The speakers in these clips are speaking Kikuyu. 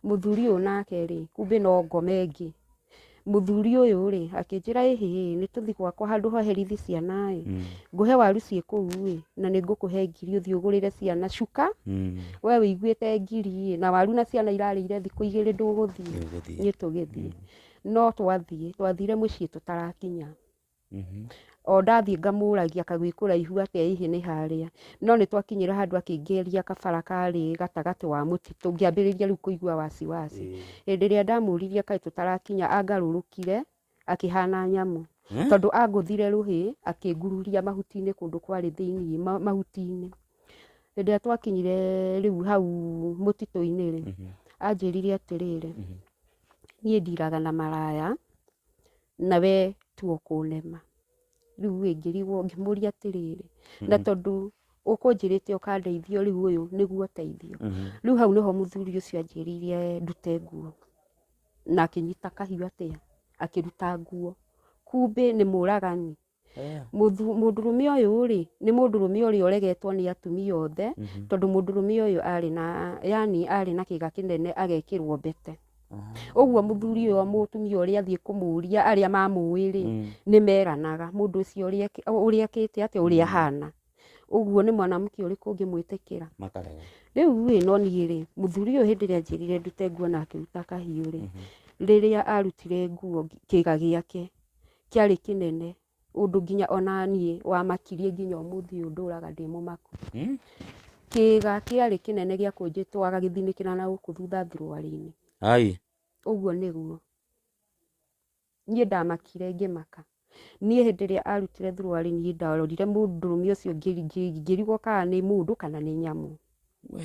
Mũthuri ũyũ nake rĩ, kumbe no ngome ĩngĩ. Mũthuri ũyũ rĩ, akĩnjĩra ĩhĩ ĩ, nĩ tũthi gwakwa handũ hoherithi ciana ĩ, Mm. ngũhe waru ciĩ kũu ĩ, na nĩ ngũkũhe ngiri ũthiĩ ũgũrĩre ciana cuka, Mm. we wĩiguĩte ngiri ĩ, na waru na ciana irarĩire thikũ igĩrĩ ndũgũthiĩ, Ndũgũthiĩ. niĩ tũgĩthiĩ. No twathiĩ, twathire mũciĩ tũtarakinya. Mhm. o ndathiĩ ngamũragia kagwĩ kũraihu atĩa hihi nĩ harĩa no nĩ twakinyĩra handũ akĩngeria kabara karĩ gatagatĩ wa mũtitũ ngĩambĩrĩria rĩu kũigua wasiwasi Ĩĩ. hĩndĩ ĩrĩa ndamũririe kaĩ tũtarakinya angarũrũkire akĩhana nyamũ Eh? tondũ angũthire rũhĩ akĩngururia mahuti-inĩ kũndũ kwarĩ thĩinĩ ma- mahuti-inĩ hĩndĩ ĩrĩa twakinyire rĩu hau mũtitũ-inĩ rĩ Mhm. anjĩrire atĩrĩrĩ Mhm. niĩ ndiraga na maraya na we tu ũkũnema rĩu ĩ ngĩrigwo ngĩmũria atĩrĩrĩ na tondũ ũkũnjĩrĩte ũkandeithia rĩu ũyũ nĩguo ũteithio rĩu hau nĩho mũthuri ũcio anjĩrĩire ndute nguo na akĩnyita kahiũ atĩa akĩruta nguo kumbĩ nĩ mũragani. Eh, Mũthu- mũndũrũme ũyũ rĩ nĩ mũndũrũme ũrĩa ũregetwo nĩ atumia othe mhm, tondũ mũndũrũme ũyũ arĩ na yani arĩ na kĩga kĩnene agekĩrwo mbete ah, ũguo mũthuri ũyũ mũtumia ũrĩa athiĩ kũmũria arĩa mamũĩ rĩ mm, nĩ meranaga mũndũ ũcio ũrĩa ekĩ- ũrĩa ekĩte atĩa ũrĩa ahana ũguo nĩ mwanamke ũrĩkũ ũngĩmwĩtĩkĩra makarega rĩu rĩ no niĩ rĩ mũthuri ũyũ hĩndĩ ĩrĩa njĩrire ndute nguo na akĩruta kahiũ rĩ Mhm, rĩrĩa arutire nguo kĩga gĩake kĩarĩ kĩnene ũndũ nginya ona niĩ wamakirie nginya ũmũthĩ ũyũ ndũraga ndĩ mũmaku. Hmm? Kĩĩga kĩarĩ kĩnene gĩa kũnjĩtwara gĩthinĩkĩra na gũkũ thutha thuruarĩ-inĩ. Ai. Ũguo nĩguo. Niĩ ndamakire ngĩmaka. Niĩ hĩndĩ ĩrĩa arutire thuruarĩ niĩ ndarorire mũndũrũme ũcio ngĩrigwo kana nĩ mũndũ kana nĩ nyamũ. We.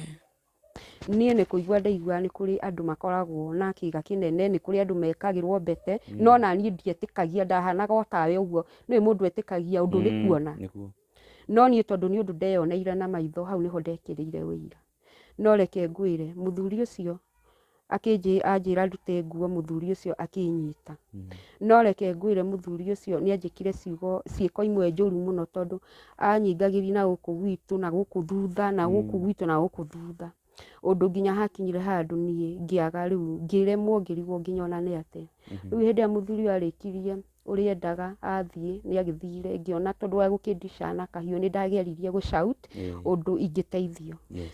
Niĩ nĩ kũigua ndaigua nĩ kũrĩ andũ makoragwo na kĩga kĩnene, nĩ kũrĩ andũ mekagĩrwo mbete, no ona niĩ ndietĩkagia, ndahanaga o tawe ũguo, nĩũĩ mũndũ etĩkagia ũndũ nĩ kuona, no niĩ tondũ nĩ ũndũ ndeyoneire na maitho hau nĩho ndekĩrĩire ũira. No reke ngwĩre, mũthuri ũcio akĩnjĩ- anjĩra ndute nguo mũthuri ũcio akĩnyita no reke ngwĩre mũthuri ũcio nĩ anjĩkire ciugo ciĩko imwe njũru mũno tondũ anyingagĩri na gũkũ gwitũ na gũkũ thutha na gũkũ Mm. gwitũ na gũkũ thutha ũndũ nginya hakinyire handũ niĩ ngĩaga rĩu ngĩremwo ngĩrigwo nginya ona nĩ atĩa Mhm. rĩu hĩndĩ ĩrĩa mũthuri ũyũ arĩkirie ũrĩa endaga athiĩ nĩ agĩthire ngĩona tondũ wa gũkĩndica na kahiũ nĩ ndageririe gũ shout Ĩĩ, ũndũ ingĩteithio yes.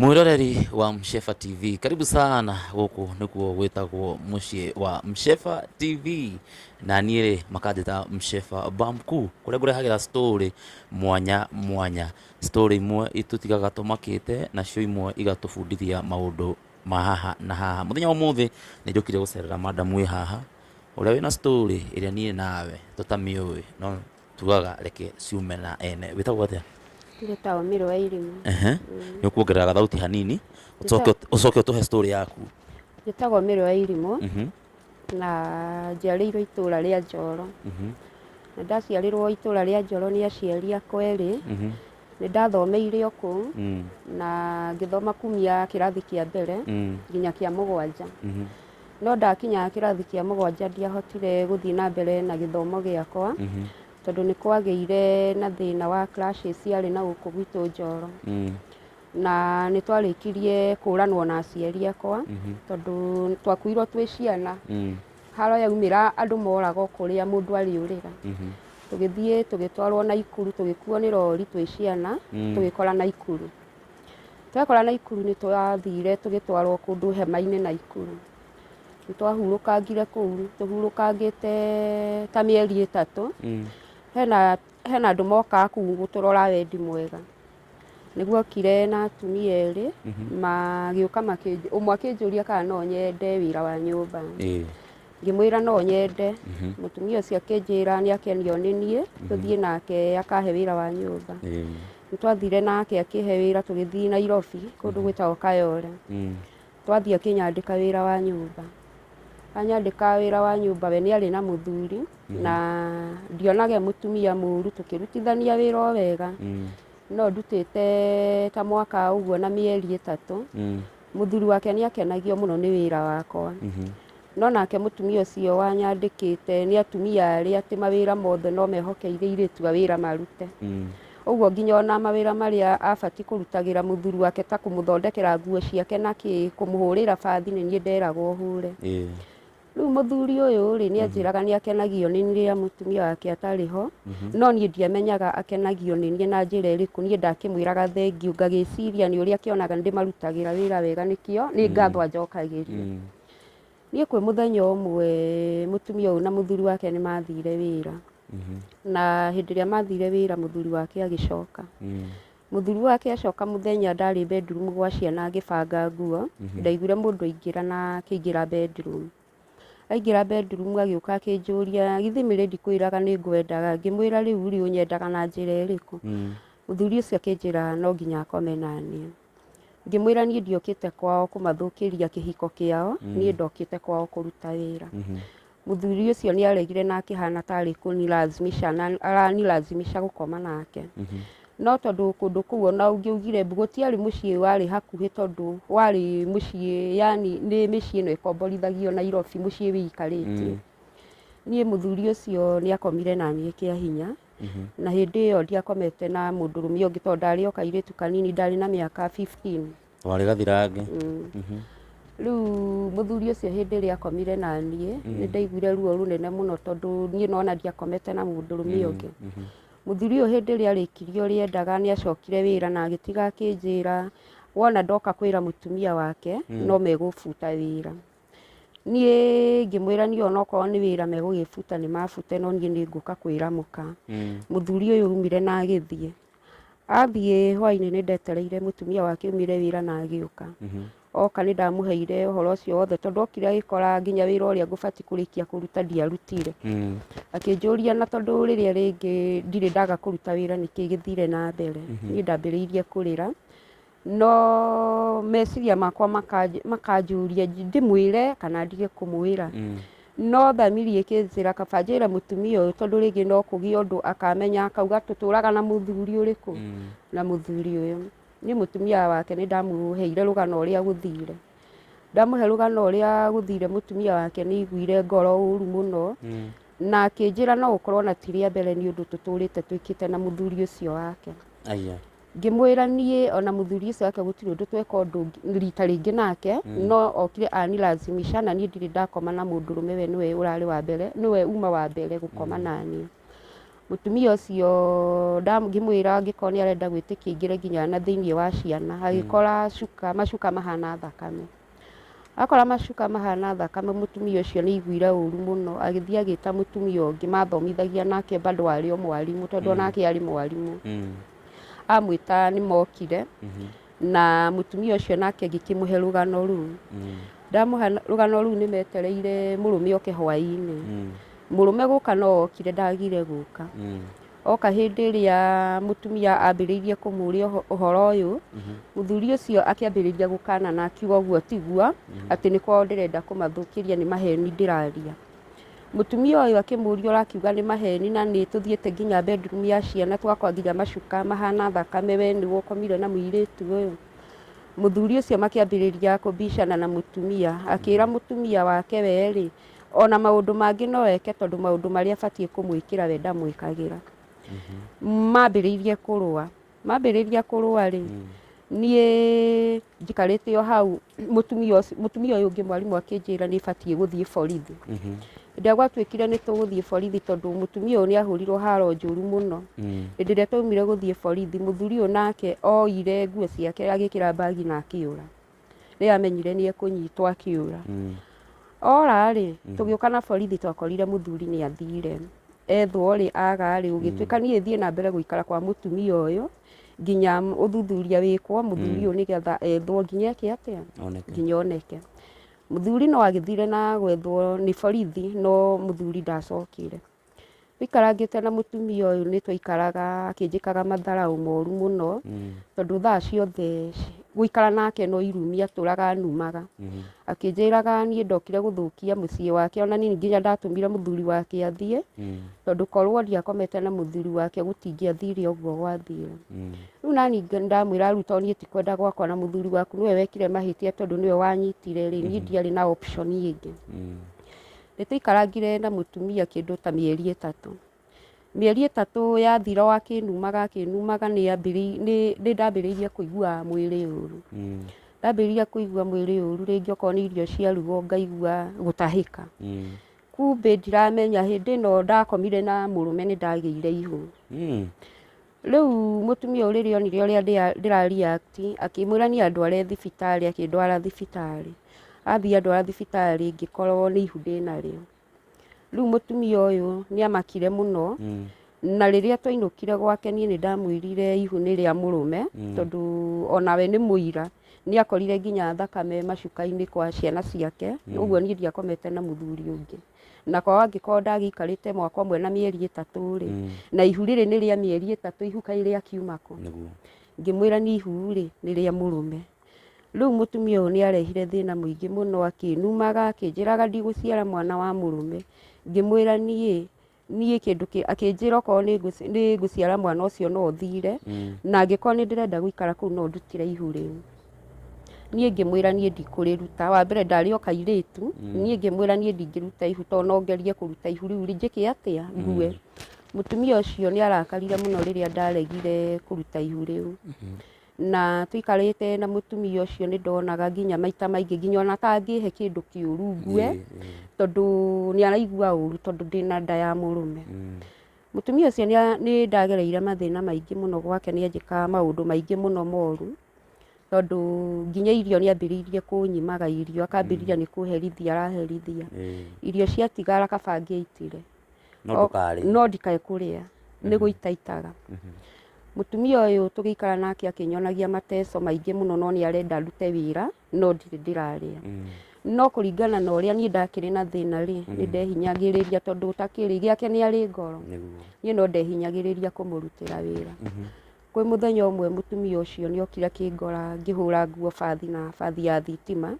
mwiroreri wa mshefa tv karibu sana gũkũ nĩkuo gwĩtagwo mũciĩ wa mshefa tv na niĩ rĩ makanjĩta mshefa bamku kũrĩa ngũrehagĩra story mwanya mwanya story imwe itũtigaga tũmakĩte nacio imwe igatũbundithia maũndũ ma haha na haha mũthenya wa ũmũthĩ nĩ njũkire gũcerera madamu wĩ haha ũrĩa wĩna story ĩrĩa niĩ nawe tũtamĩũĩ no Tugaga reke ciume na ene. Wĩtagwo atĩa? Njĩtagwo Mĩrũ wa Irimũ. Ehe. Mm. Nĩ ũkuongerera gathauti hanini, ũcoke ũt- ũcoke ũtũhe story yaku. Njĩtagwo Mĩrũ wa Irimũ Mhm, na njiarĩirwo itũũra rĩa Njoro. mhm, Na ndaciarĩrwo itũũra rĩa Njoro nĩ aciari akwa erĩ. mhm, Nĩ ndathomeire o kũu mm, na ngĩthoma kumia kĩrathi kĩa mbere mm, nginya kĩa mũgwanja. mhm. no ndakinya kĩrathi kĩa mũgwanja ndiahotire gũthiĩ na mbere na gĩthomo gĩakwa mhm. tondũ nĩ kwagĩire na thĩna wa clashes ciarĩ na gũkũ gwitũ Njoro mm. na nĩ twarĩkirie kũranwo na aciari akwa mhm. tondũ twakuirwo twĩ ciana mm. haro yaumĩra andũ moragwo kũrĩa mũndũ arĩ ũrĩra mhm. tũgĩthiĩ tũgĩtwarwo na ikuru tũgĩkuo nĩ rori twĩ ciana mm. tũgĩkora na ikuru Twekora Naikuru nĩ twathire tũgĩtwarwo kũndũ hema-inĩ Naikuru. Nĩ twahurũkangire kũu, tũhurũkangĩte ta mĩeri ĩtatũ. Hena, hena andũ mokaga kũu gũtũrora wendi mwega. Nĩ guokire na atumia erĩ, magĩũka makĩnjũ, ũmwe akĩnjũria kana no nyende wĩra wa nyũmba. ngĩmwĩra no nyende mũtumia ũcio akĩnjĩra nĩ akenio nĩ niĩ tũthiĩ nake akahe wĩra wa nyũmba Ĩĩ. nĩ twathire nake akĩhe wĩra tũgĩthiĩ nairobi kũndũ gwĩtagwo kayore Mm. twathiĩ akĩnyandĩka wĩra wa nyũmba anyandĩka wĩra wa nyũmba we nĩ arĩ na mũthuri na ndionage mũtumia mũru tũkĩrutithania wĩra o wega Mm. no ndutĩte ta mwaka ũguo na mĩeri ĩtatũ Mm. Mũthuri wake nĩ akenagio mũno nĩ wĩra wakwa. Mhm. No nake mũtumia ũcio wanyandĩkĩte nĩ atumia arĩa atĩ mawĩra mothe no mehokeire irĩtu a wĩra marute. Mm. Ũguo nginya ona mawĩra marĩa abati kũrutagĩra mũthuri wake ta kũmũthondekera nguo ciake na kĩ, kũmũhũrĩra bathi nĩ niĩ nderagwo hũre. Ĩĩ. Rĩu mũthuri ũyũ rĩ nĩ anjĩraga nĩ akenagio nĩ niĩ rĩrĩa mũtumia wake atarĩ ho no niĩ ndiamenyaga akenagio nĩ niĩ na njĩra ĩrĩkũ niĩ ndakĩmwĩraga thengiũ ngagĩciria nĩ ũrĩa akĩonaga nĩ ndĩmarutagĩra wĩra wega nĩkĩo nĩ ngatho anjokagĩria. Niĩ kwĩ mũthenya ũmwe mũtumia ũyũ na mũthuri wake nĩ mathire wĩra na hĩndĩ ĩrĩa mathire wĩra mũthuri wake agĩcoka Mũthuri wake acoka mũthenya ndarĩ bedroom gwa ciana agĩbanga nguo, ndaiguire mũndũ aingĩra na akĩingĩra bedroom. Aingĩra bedroom agĩũka akĩnjũria githĩ mĩrĩ ndikwĩraga nĩ ngwendaga, ngĩmwĩra rĩu rĩ ũnyendaga na njĩra ĩrĩkũ? Mũthuri ũcio akĩnjĩra no nginya akome na niĩ. Ngĩmwĩra niĩ ndiokĩte kwao kũmathũkĩria kĩhiko kĩao, niĩ ndokĩte kwao kũruta wĩra. Mũthuri ũcio nĩ aregire na akĩhana tarĩ kũnilazimisha na aranilazimisha gũkoma nake. No tondũ kũndũ kũu ona ũngĩaugire mbu gũtiarĩ mũciĩ warĩ hakuhĩ tondũ warĩ mũciĩ yani nĩ mĩciĩ ĩno ĩkomborithagio Nairobi mũciĩ wĩikarĩtie. Niĩ mũthuri ũcio nĩ akomire na niĩ kĩa hinya na hĩndĩ ĩyo ndiakomete na mũndũrũme ũngĩ tondũ ndarĩ o kairĩtu kanini ndarĩ na mĩaka 15. Warĩ gathirange. Rĩu mũthuri ũcio hĩndĩ ĩrĩa akomire na niĩ nĩ ndaiguire ruo rũnene mũno tondũ niĩ nona ndiakomete na mũndũrũme ũyũ ũngĩ. Mũthuri ũyũ hĩndĩ ĩrĩa arĩkirie ũrĩa endaga nĩ acokire wĩra na agĩtiga akĩnjĩra wona ndoka kwĩra mũtumia wake no megũbuta wĩra. Niĩ ngĩmwĩra niĩ onokorwo nĩ wĩra megũgĩbuta nĩ mabute no niĩ nĩ ngũka kwĩra mũka. Mũthuri ũyũ aumire na agĩthiĩ. Athiĩ hwainĩ nĩ ndetereire mũtumia wake umire wĩra na agĩũka oka nĩ ndamũheire ũhoro ũcio wothe tondũ okire agĩkora nginya wĩra ũrĩa ngũbati kũrĩkia kũruta ndiarutire akĩnjũria na tondũ rĩrĩa rĩngĩ ndirĩ ndaga kũruta wĩra nĩkĩĩ gĩthire na mbere niĩ ndambĩrĩirie kũrĩra No meciria makwa makanjũria ndĩmwĩre kana ndige kũmwĩra mm. no thamiri ĩkĩnjĩra kaba njĩre mũtumia ũyũ tondũ rĩngĩ no kũgĩe ũndũ akamenya akauga tũtũraga na mũthuri ũrĩkũ mm. na mũthuri ũyũ nĩ mũtumia wake nĩ ndamũheire rũgano ũrĩa gũthire ndamũhe rũgano ũrĩa gũthire mũtumia wake nĩ iguire ngoro ũru mũno mm. na akĩnjĩra no ũkorwo na tirĩa mbere nĩ ũndũ tũtũrĩte twĩkĩte na mũthuri ũcio wake Ngĩmwĩra niĩ ona mũthuri ũcio wake gũtirĩ ũndũ tweka ũndũ ũngĩ- rita rĩngĩ nake no okire anilazimisha na niĩ ndirĩ ndakoma na mũndũrũme we nĩwe ũrarĩ wa mbere nĩwe uma wa mbere gũkoma naniĩ mũtumia ũcio nda- ngĩmwĩra angĩkorwo nĩ arenda gwĩtĩkia aingĩre nginya na thĩinĩ wa ciana agĩkora cuka macuka mahana thakame Akora macuka mahana thakame mũtumia ũcio nĩ aiguire ũru mũno agĩthiĩ agĩta mũtumia ũngĩ mathomithagia nake bado arĩ o mwarimũ tondũ onake arĩ mwarimũ Mm. amwĩta nĩ mokire Mhm. na mũtumia ũcio nake ngĩkĩmũhe rũgano rũu Mm. ndamũhe rũgano rũu nĩ metereire mũrũme oke hwaĩ-inĩ Mm. mũrũme gũka no okire ndagire gũka Mm. Oka hĩndĩ ĩrĩa mũtumia ambĩrĩirie kũmũũria ũho- ũhoro ũyũ, mũthuri ũcio akĩambĩrĩria gũkana na akiuga ũguo tiguo, atĩ nĩ kwao ndĩrenda kũmathũkĩria nĩ maheni ndĩraria. Mũtumia ũyũ akĩmũũria ũrakiuga nĩ maheni na nĩ tũthiĩte nginya bedroom ya ciana twakora nginya macuka mahana thakame, we nĩwe ũkomire na mũirĩtu ũyũ? Mũthuri ũcio makĩambĩrĩria kũbicana na mũtumia, akĩra mũtumia wake we rĩ, ona maũndũ mangĩ no eke tondũ maũndũ marĩa batiĩ kũmwĩkĩra we ndamwĩkagĩra mambĩrĩirie kũrũa mambĩrĩria kũrũa rĩ niĩ njikarĩte o hau mũtumia ũcio- mũtumia ũyũ ũngĩ mwarimũ akĩnjĩra nĩ batiĩ gũthiĩ borithi rĩrĩa gwatuĩkire nĩ tũgũthiĩ borithi tondũ mũtumia ũyũ nĩ ahũrirwo haro njũru mũno hĩndĩ ĩrĩa twaumire gũthiĩ borithi mũthuri ũyũ nake oire nguo ciake agĩkĩra mbagi na akĩũra rĩrĩa amenyire nĩ ekũnyitwo akĩũra. Mm. Ora-rĩ, mm. tũgĩũka na borithi twakorire mũthuri nĩ athire. Ethwo-rĩ, aga-rĩ, mm. ũgĩtuĩka niĩ thiĩ na mbere gũikara kwa mũtumia ũyũ nginya ũthuthuria wĩkwo mũthuri mm. ũyũ nĩgetha ethwo nginya eke atĩa nginya oneke mũthuri no agĩthire na gwethwo nĩ borithi no mũthuri ndacokire Tũikarangĩte na mũtumia ũyũ nĩ twaikaraga akĩnjĩkaga matharaũ moru mũno, tondũ thaa ciothe gũikara nake no irumi atũraga anumaga. Akĩnjĩraga niĩ ndokire gũthũkia mũciĩ wake, ona niĩ nginya ndatũmire mũthuri wake athiĩ, tondũ korwo ndiakomete na mũthuri wake gũtingĩathire ũguo gwathire. Rĩu naniĩ ndamwĩra rĩu to niĩ ti kwenda gwakwa na mũthuri waku nĩwe wekire mahĩtia tondũ nĩwe wanyitire rĩ, niĩ ndiarĩ na option ĩngĩ. Nĩ tũikarangire na mũtumia kĩndũ ta mĩeri ĩtatũ. Mĩeri ĩtatũ yathira o akĩnumaga akĩnumaga nĩ ndambĩrĩirie kũigua mwĩrĩ ũru. Mm. Ndambĩrĩirie kũigua mwĩrĩ ũru rĩngĩ okorwo nĩ irio ciarugwo ngaigua gũtahĩka. Mm. Kumbĩ ndiramenya hĩndĩ ĩno ndakomire na mũrũme nĩ ndagĩire ihu. Mm. Rĩu mũtumia ũyũ rĩrĩa onire ũrĩa ndĩra react akĩmwĩra niĩ andware thibitarĩ, akĩndwara thibitarĩ. Athiĩ andwara thibitarĩ ngĩkorwo nĩ ihu ndĩnarĩo. Rĩu mũtumia ũyũ nĩ amakire mũno na rĩrĩa twainũkire gwake niĩ nĩ ndamwĩrire ihu nĩ rĩa mũrũme tondũ onawe nĩ mũira. Nĩ akorire nginya thakame macuka-inĩ kwa ciana ciake, ũguo niĩ ndiakomete na mũthuri ũngĩ. nakwa angĩkorwo ndagĩikarĩte mwaka ũmwe na mĩeri ĩtatũ rĩ Mm. na ihu rĩrĩ nĩ rĩa mĩeri ĩtatũ ihu kaĩ rĩa kiuma kũ nĩguo ngĩmwĩra nĩ ihu rĩ nĩ rĩa mũrũme rĩu mũtumia ũyũ nĩ arehire thĩna mũingĩ mũno akĩnumaga akĩnjĩraga ndigũciara mwana wa mũrũme ngĩmwĩra niĩ niĩ kĩndũ kĩ- akĩnjĩra okorwo nĩ ngũci- nĩ ngũciara mwana ũcio no thire Mm. na angĩkorwo nĩ ndĩrenda gũikara kũu no ndutĩre ihu rĩu niĩ ngĩmwĩra niĩ ndikũrĩruta wa mbere ndarĩ o kairĩtu niĩ ngĩmwĩra niĩ ndingĩruta ihu tondũ no ngerie kũruta ihu rĩu njĩke atĩa ngue mũtumia ũcio nĩ arakarire mũno rĩrĩa ndaregire kũruta ihu rĩu na tũikarĩte na mũtumia ũcio nĩ ndonaga nginya maita maingĩ nginya ona atangĩhe kĩndũ kĩũru ngue tondũ nĩ araigua ũru tondũ ndĩna nda ya mũrũme mũtumia ũcio nĩ a- nĩ ndagereire mathĩna maingĩ mũno gwake nĩ anjĩkaga maũndũ maingĩ mũno moru tondũ nginya irio nĩ ambĩrĩirie kũnyimaga irio akambĩrĩria nĩ kũherithia araherithia Eh, irio ciatigara akaba ngĩitire no ndũkarĩ no ndikae kũrĩa nĩ gũitaitaga mũtumia ũyũ tũgĩikara nake akĩnyonagia mateso maingĩ mũno no nĩ arenda ndute wĩra no ndirĩ ndĩrarĩa Mm, no kũringana na ũrĩa niĩ ndakĩrĩ na thĩna rĩ nĩ ndehinyagĩrĩria tondũ ũtakĩrĩ gĩake nĩ arĩ ngoro nĩguo niĩ no ndehinyagĩrĩria kũmũrutĩra wĩra Kwĩ mũthenya ũmwe mũtumia ũcio nĩ okire akĩngora ngĩhũra nguo bathi na bathi ya thitima,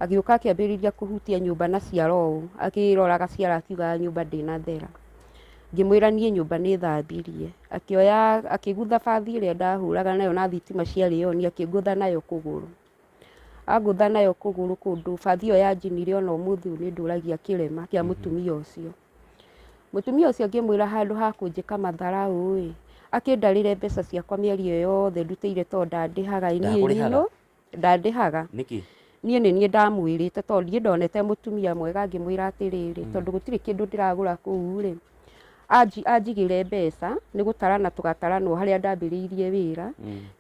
agĩũka akĩambĩrĩria kũhutia nyũmba na ciara ũũ, akĩroraga ciara akiugaga nyũmba ndĩnathera. Ngĩmwĩra niĩ nyũmba nĩ thambirie. Akĩoya akĩgũtha bathi ĩrĩa ndahũraga nayo na thitima ciarĩ on akĩngũtha nayo kũgũrũ. Angũtha nayo kũgũrũ kũndũ bathi ĩyo yanjinire ona ũmũthĩ ũyũ nĩ ndũragia kĩrema kĩa mũtumia ũcio. Mũtumia ũcio ngĩmwĩra handũ ha kũnjĩka matharaũ-ĩ, akĩndarĩre mbeca ciakwa mĩeri ĩyo yothe ndutĩire tondũ ndandĩhaga niĩ Ndakũrĩhaga? nyinũ, ndandĩhaga. Nĩkĩ? Niĩ nĩ niĩ ndamwĩrĩte tondũ ndiĩ ndonete mũtumia mwega ngĩmwĩra atĩrĩrĩ, tondũ gũtirĩ kĩndũ ndĩragũra kũu-rĩ, anji- anjigĩre mbeca nĩ gũtarana tũgatarana o harĩa ndambĩrĩirie wĩra.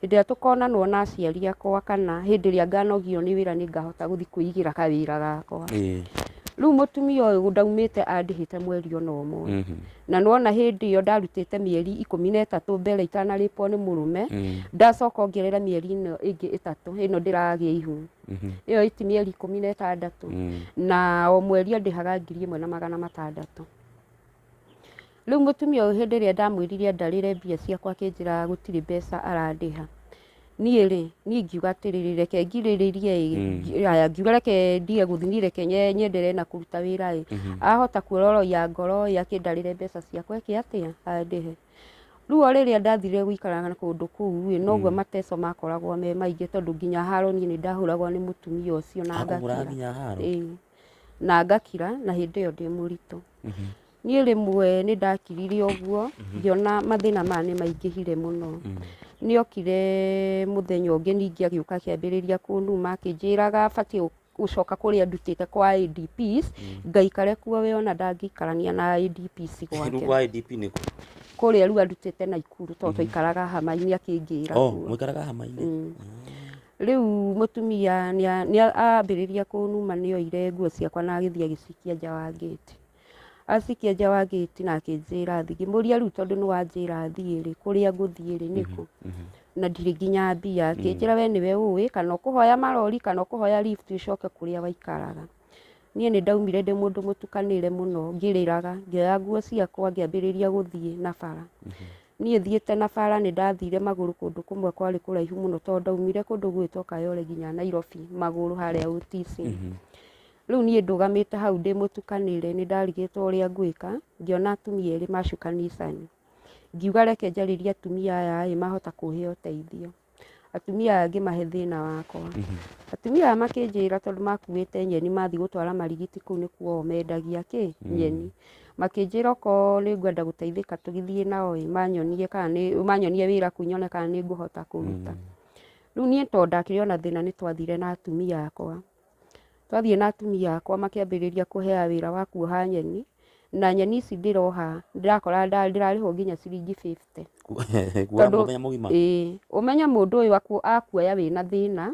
Hĩndĩ ĩrĩa tũkonanwo na aciari akwa kana hĩndĩ ĩrĩa nganogio nĩ wĩra nĩ ngahota gũthiĩ kwĩigĩra kawĩra gakwa. Ĩĩ. Rĩu mũtumia ũyũ ndaumĩte andĩhĩte mweri ona ũmwe. Mhm. Na nona hĩndĩ ĩyo ndarutĩte mĩeri ikũmi na ĩtatũ mbere itanarĩpwo nĩ mũrũme, Mm. ndacoka ongerera mĩeri ĩno ĩngĩ ĩtatũ ĩno ndĩragĩa ihu. Mhm. Ĩyo ĩti mĩeri ikũmi na ĩtandatũ. Mm. na o mweri andĩhaga ngiri ĩmwe na magana matandatũ Rĩu mũtumia ũyũ hĩndĩ ĩrĩa ndamwĩrire ndarĩre mbia ciakwa akĩnjĩraga gũtirĩ mbeca arandĩha niĩ rĩ niĩ ngiuga atĩrĩrĩ reke ngirĩrĩrie ĩ ngi- aya ngiuga reke ndige gũthiĩ niĩ reke nye- nyenderee na kũruta wĩra ĩ ahota kuororoia ngoro ĩ akĩndarĩre mbeca ciakwa eke atĩa andĩhe rĩu o rĩrĩa ndathire gũikara na kũndũ kũu ĩ noguo mateco makoragwo me maingĩ tondũ nginya haro niĩ nĩ ndahũragwo nĩ mũtumia ũcio na Akũhũraga ngakira nginya haro? Ĩĩ. na ngakira na hĩndĩ ĩyo ndĩ mũritũ Niĩ rĩmwe nĩ ndakirire ũguo, ngĩona mathĩna maya nĩ maingĩhire mũno. Nĩ okire mũthenya ũngĩ ningĩ agĩũka akĩambĩrĩria kũnuma, akĩnjĩraga batiĩ gũcoka kũrĩa ndutĩte kwa ADPs, ngaikare kuo we ona ndangĩikarania na ADPs gwake. Kwa ADP nĩ kũ? Kũrĩa rĩu andutĩte Naikuru tondũ twaikaraga hama-inĩ akĩnjĩra Oh, ũguo. mũikaraga hama-inĩ? Rĩu mũtumia nĩ a- nĩ a- ambĩrĩria kũnuma nĩ oire nguo ciakwa na agĩthiĩ agĩcikia nja wa ngĩti. Acikia nja wa gĩti na akĩnjĩra athiĩ. Ngĩmũria rĩu tondũ nĩ wanjĩra thiĩ rĩ, kũrĩa ngũthiĩ rĩ nĩ kũ? Na ndirĩ nginya mbia. Akĩnjĩra we nĩwe ũĩ kana ũkũhoya marori kana ũkũhoya lift ũcoke kũrĩa waikaraga. Niĩ nĩ ndaumire ndĩ mũndũ mũtukanĩre mũno ngĩrĩraga, ngĩoya nguo ciakwa ngĩambĩrĩria gũthiĩ na bara. Niĩ thiĩte na bara nĩ ndathire magũrũ kũndũ kũmwe kwarĩ kũraihu mũno tondũ ndaumire kũndũ gwĩtwo Kayole nginya Nairobi magũrũ harĩa ũtici. Rĩu niĩ ndũgamĩte hau ndĩ mũtukanĩre, nĩ ndarigĩtwo ũrĩa ngwĩka, ngĩona atumia erĩ macukanicani. Ngiuga reke njarĩrie atumia aya ĩ mahota kũhe ũteithio. Atumia aya ngĩmahe thĩna wakwa. Atumia aya makĩnjĩra tondũ makuĩte nyeni mathiĩ gũtwara marigiti kũu nĩkuo o mendagia kĩ? Nyeni. Makĩnjĩra okorwo nĩ ngwenda gũteithĩka tũgĩthiĩ nao ĩ, manyonie kana nĩ, manyonie wĩra kũu nyone kana nĩ ngũhota kũruta. Rĩu niĩ tondũ ndakĩrĩ ona thĩna nĩ twathire na atumia akwa. Twathiĩ na atumia akwa makĩambĩrĩria kũhea wĩra wa kuoha nyeni, na nyeni ici ndĩroha ndĩrakora nda- ndĩrarĩhwo nginya ciringi 50. kuoha Tondũ- mũthenya mũgima Ĩĩ, ũmenye mũndũ ũyũ aku- akuoya wĩna thĩna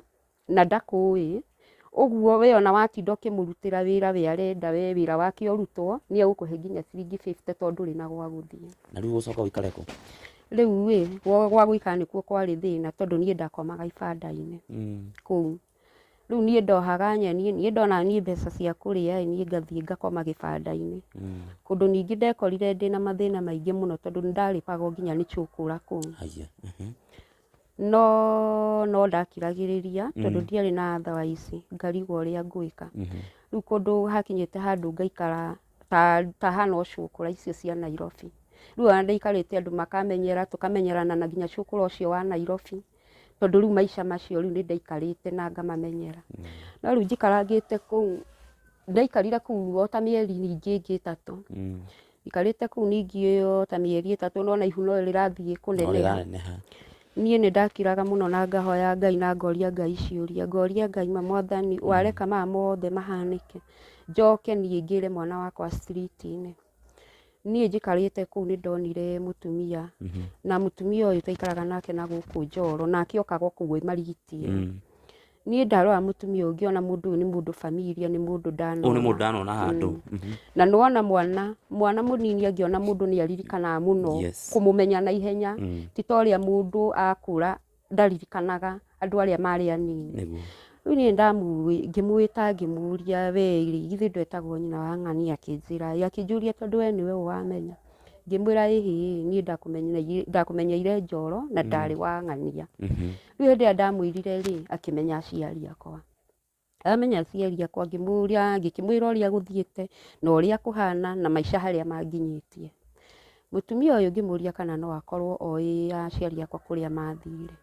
na ndakũĩ, ũguo we ona watinda ũkĩmũrutĩra wĩra we arenda we wĩra wake ũrutwo, nĩ egũkũhe nginya ciringi 50 tondũ ndũrĩ na gwa gũthiĩ. na rĩu ũgũcoka ũikare kũ Rĩu-ĩ, gwa gwa gũikara nĩkuo kwarĩ thĩna tondũ niĩ ndakomaga ibanda-inĩ Mm. kũu. rĩu niĩ ndohaga nyeni niĩ ndona niĩ mbeca cia kũrĩa ĩ niĩ ngathiĩ ngakoma gĩbandainĩ kũndũ ningĩ ndekorire ndĩna mathĩna maingĩ mũno tondũ nĩndarĩbagwo nginya nĩ cũkũra kũu Aiya. Mhm. no no ndakiragĩrĩria tondũ ndiarĩ na thawaici ngarigwo ũrĩa ngwĩka Mhm. rĩu kũndũ hakinyĩte handũ ngaikara ta ta hana ũcũkũra icio cia Nairobi rĩu ona ndaikarĩte andũ makamenyera tũkamenyerana na nginya cũkũra ũcio wa Nairobi tondũ rĩu maica macio rĩu nĩ ndaikarĩte na ngamamenyera no rĩu njikarangĩte kũu ndaikarire kũu o ta mĩeri ningĩ ĩngĩ ĩtatũ Mm. ikarĩte kũu ningĩ o ta mĩeri ĩtatũ nona ihu no rĩrathiĩ No kũneneha rĩraneneha. niĩ nĩ ndakiraga mũno na ngahoya ngai na ngoria ngai ciũria ngoria ngai ma mwathani wareka maya mothe mahanĩke njoke niĩ ngĩre mwana wakwa street-inĩ Niĩ njikarĩte kũu nĩ ndonire mũtumia na mũtumia ũyũ twaikaraga nake na gũkũ Njoro nake okaga o kũu e marigiti e. Mm. Niĩ ndarora mũtumia ũyũ ngĩona mũndũ ũyũ nĩ mũndũ familia nĩ mũndũ Ũyũ nĩ ndanona mũndũ ndanona handũ. Mhm. na nona mwana mwana mũnini angĩona mũndũ nĩ aririkanaga mũno Yes. kũmũmenya na ihenya Mm. ti ta ũrĩa mũndũ akũra ndaririkanaga andũ arĩa marĩ anini nĩguo rĩu niĩ ndamu- ngĩmwĩta ngĩmũria we rĩ githĩ ndwetagwo nyina wa ng'ani akĩnjĩra ĩ akĩnjũria tondũ we nĩwe ũwamenya ngĩmwĩra ĩhĩ niĩ ndakũmenyeire- ndakũmenyeire njoro na ndarĩ wa ng'ania Mhm. rĩu hĩndĩ ĩrĩa ndamwĩrire rĩ akĩmenya aciari akwa Amenya aciari akwa ngĩmũria ngĩkĩmwĩra ũrĩa gũthiĩte na ũrĩa kũhana na maica harĩa manginyĩtie. Mũtumia ũyũ ngĩmũria kana no akorwo oĩ aciari akwa kũrĩa mathire.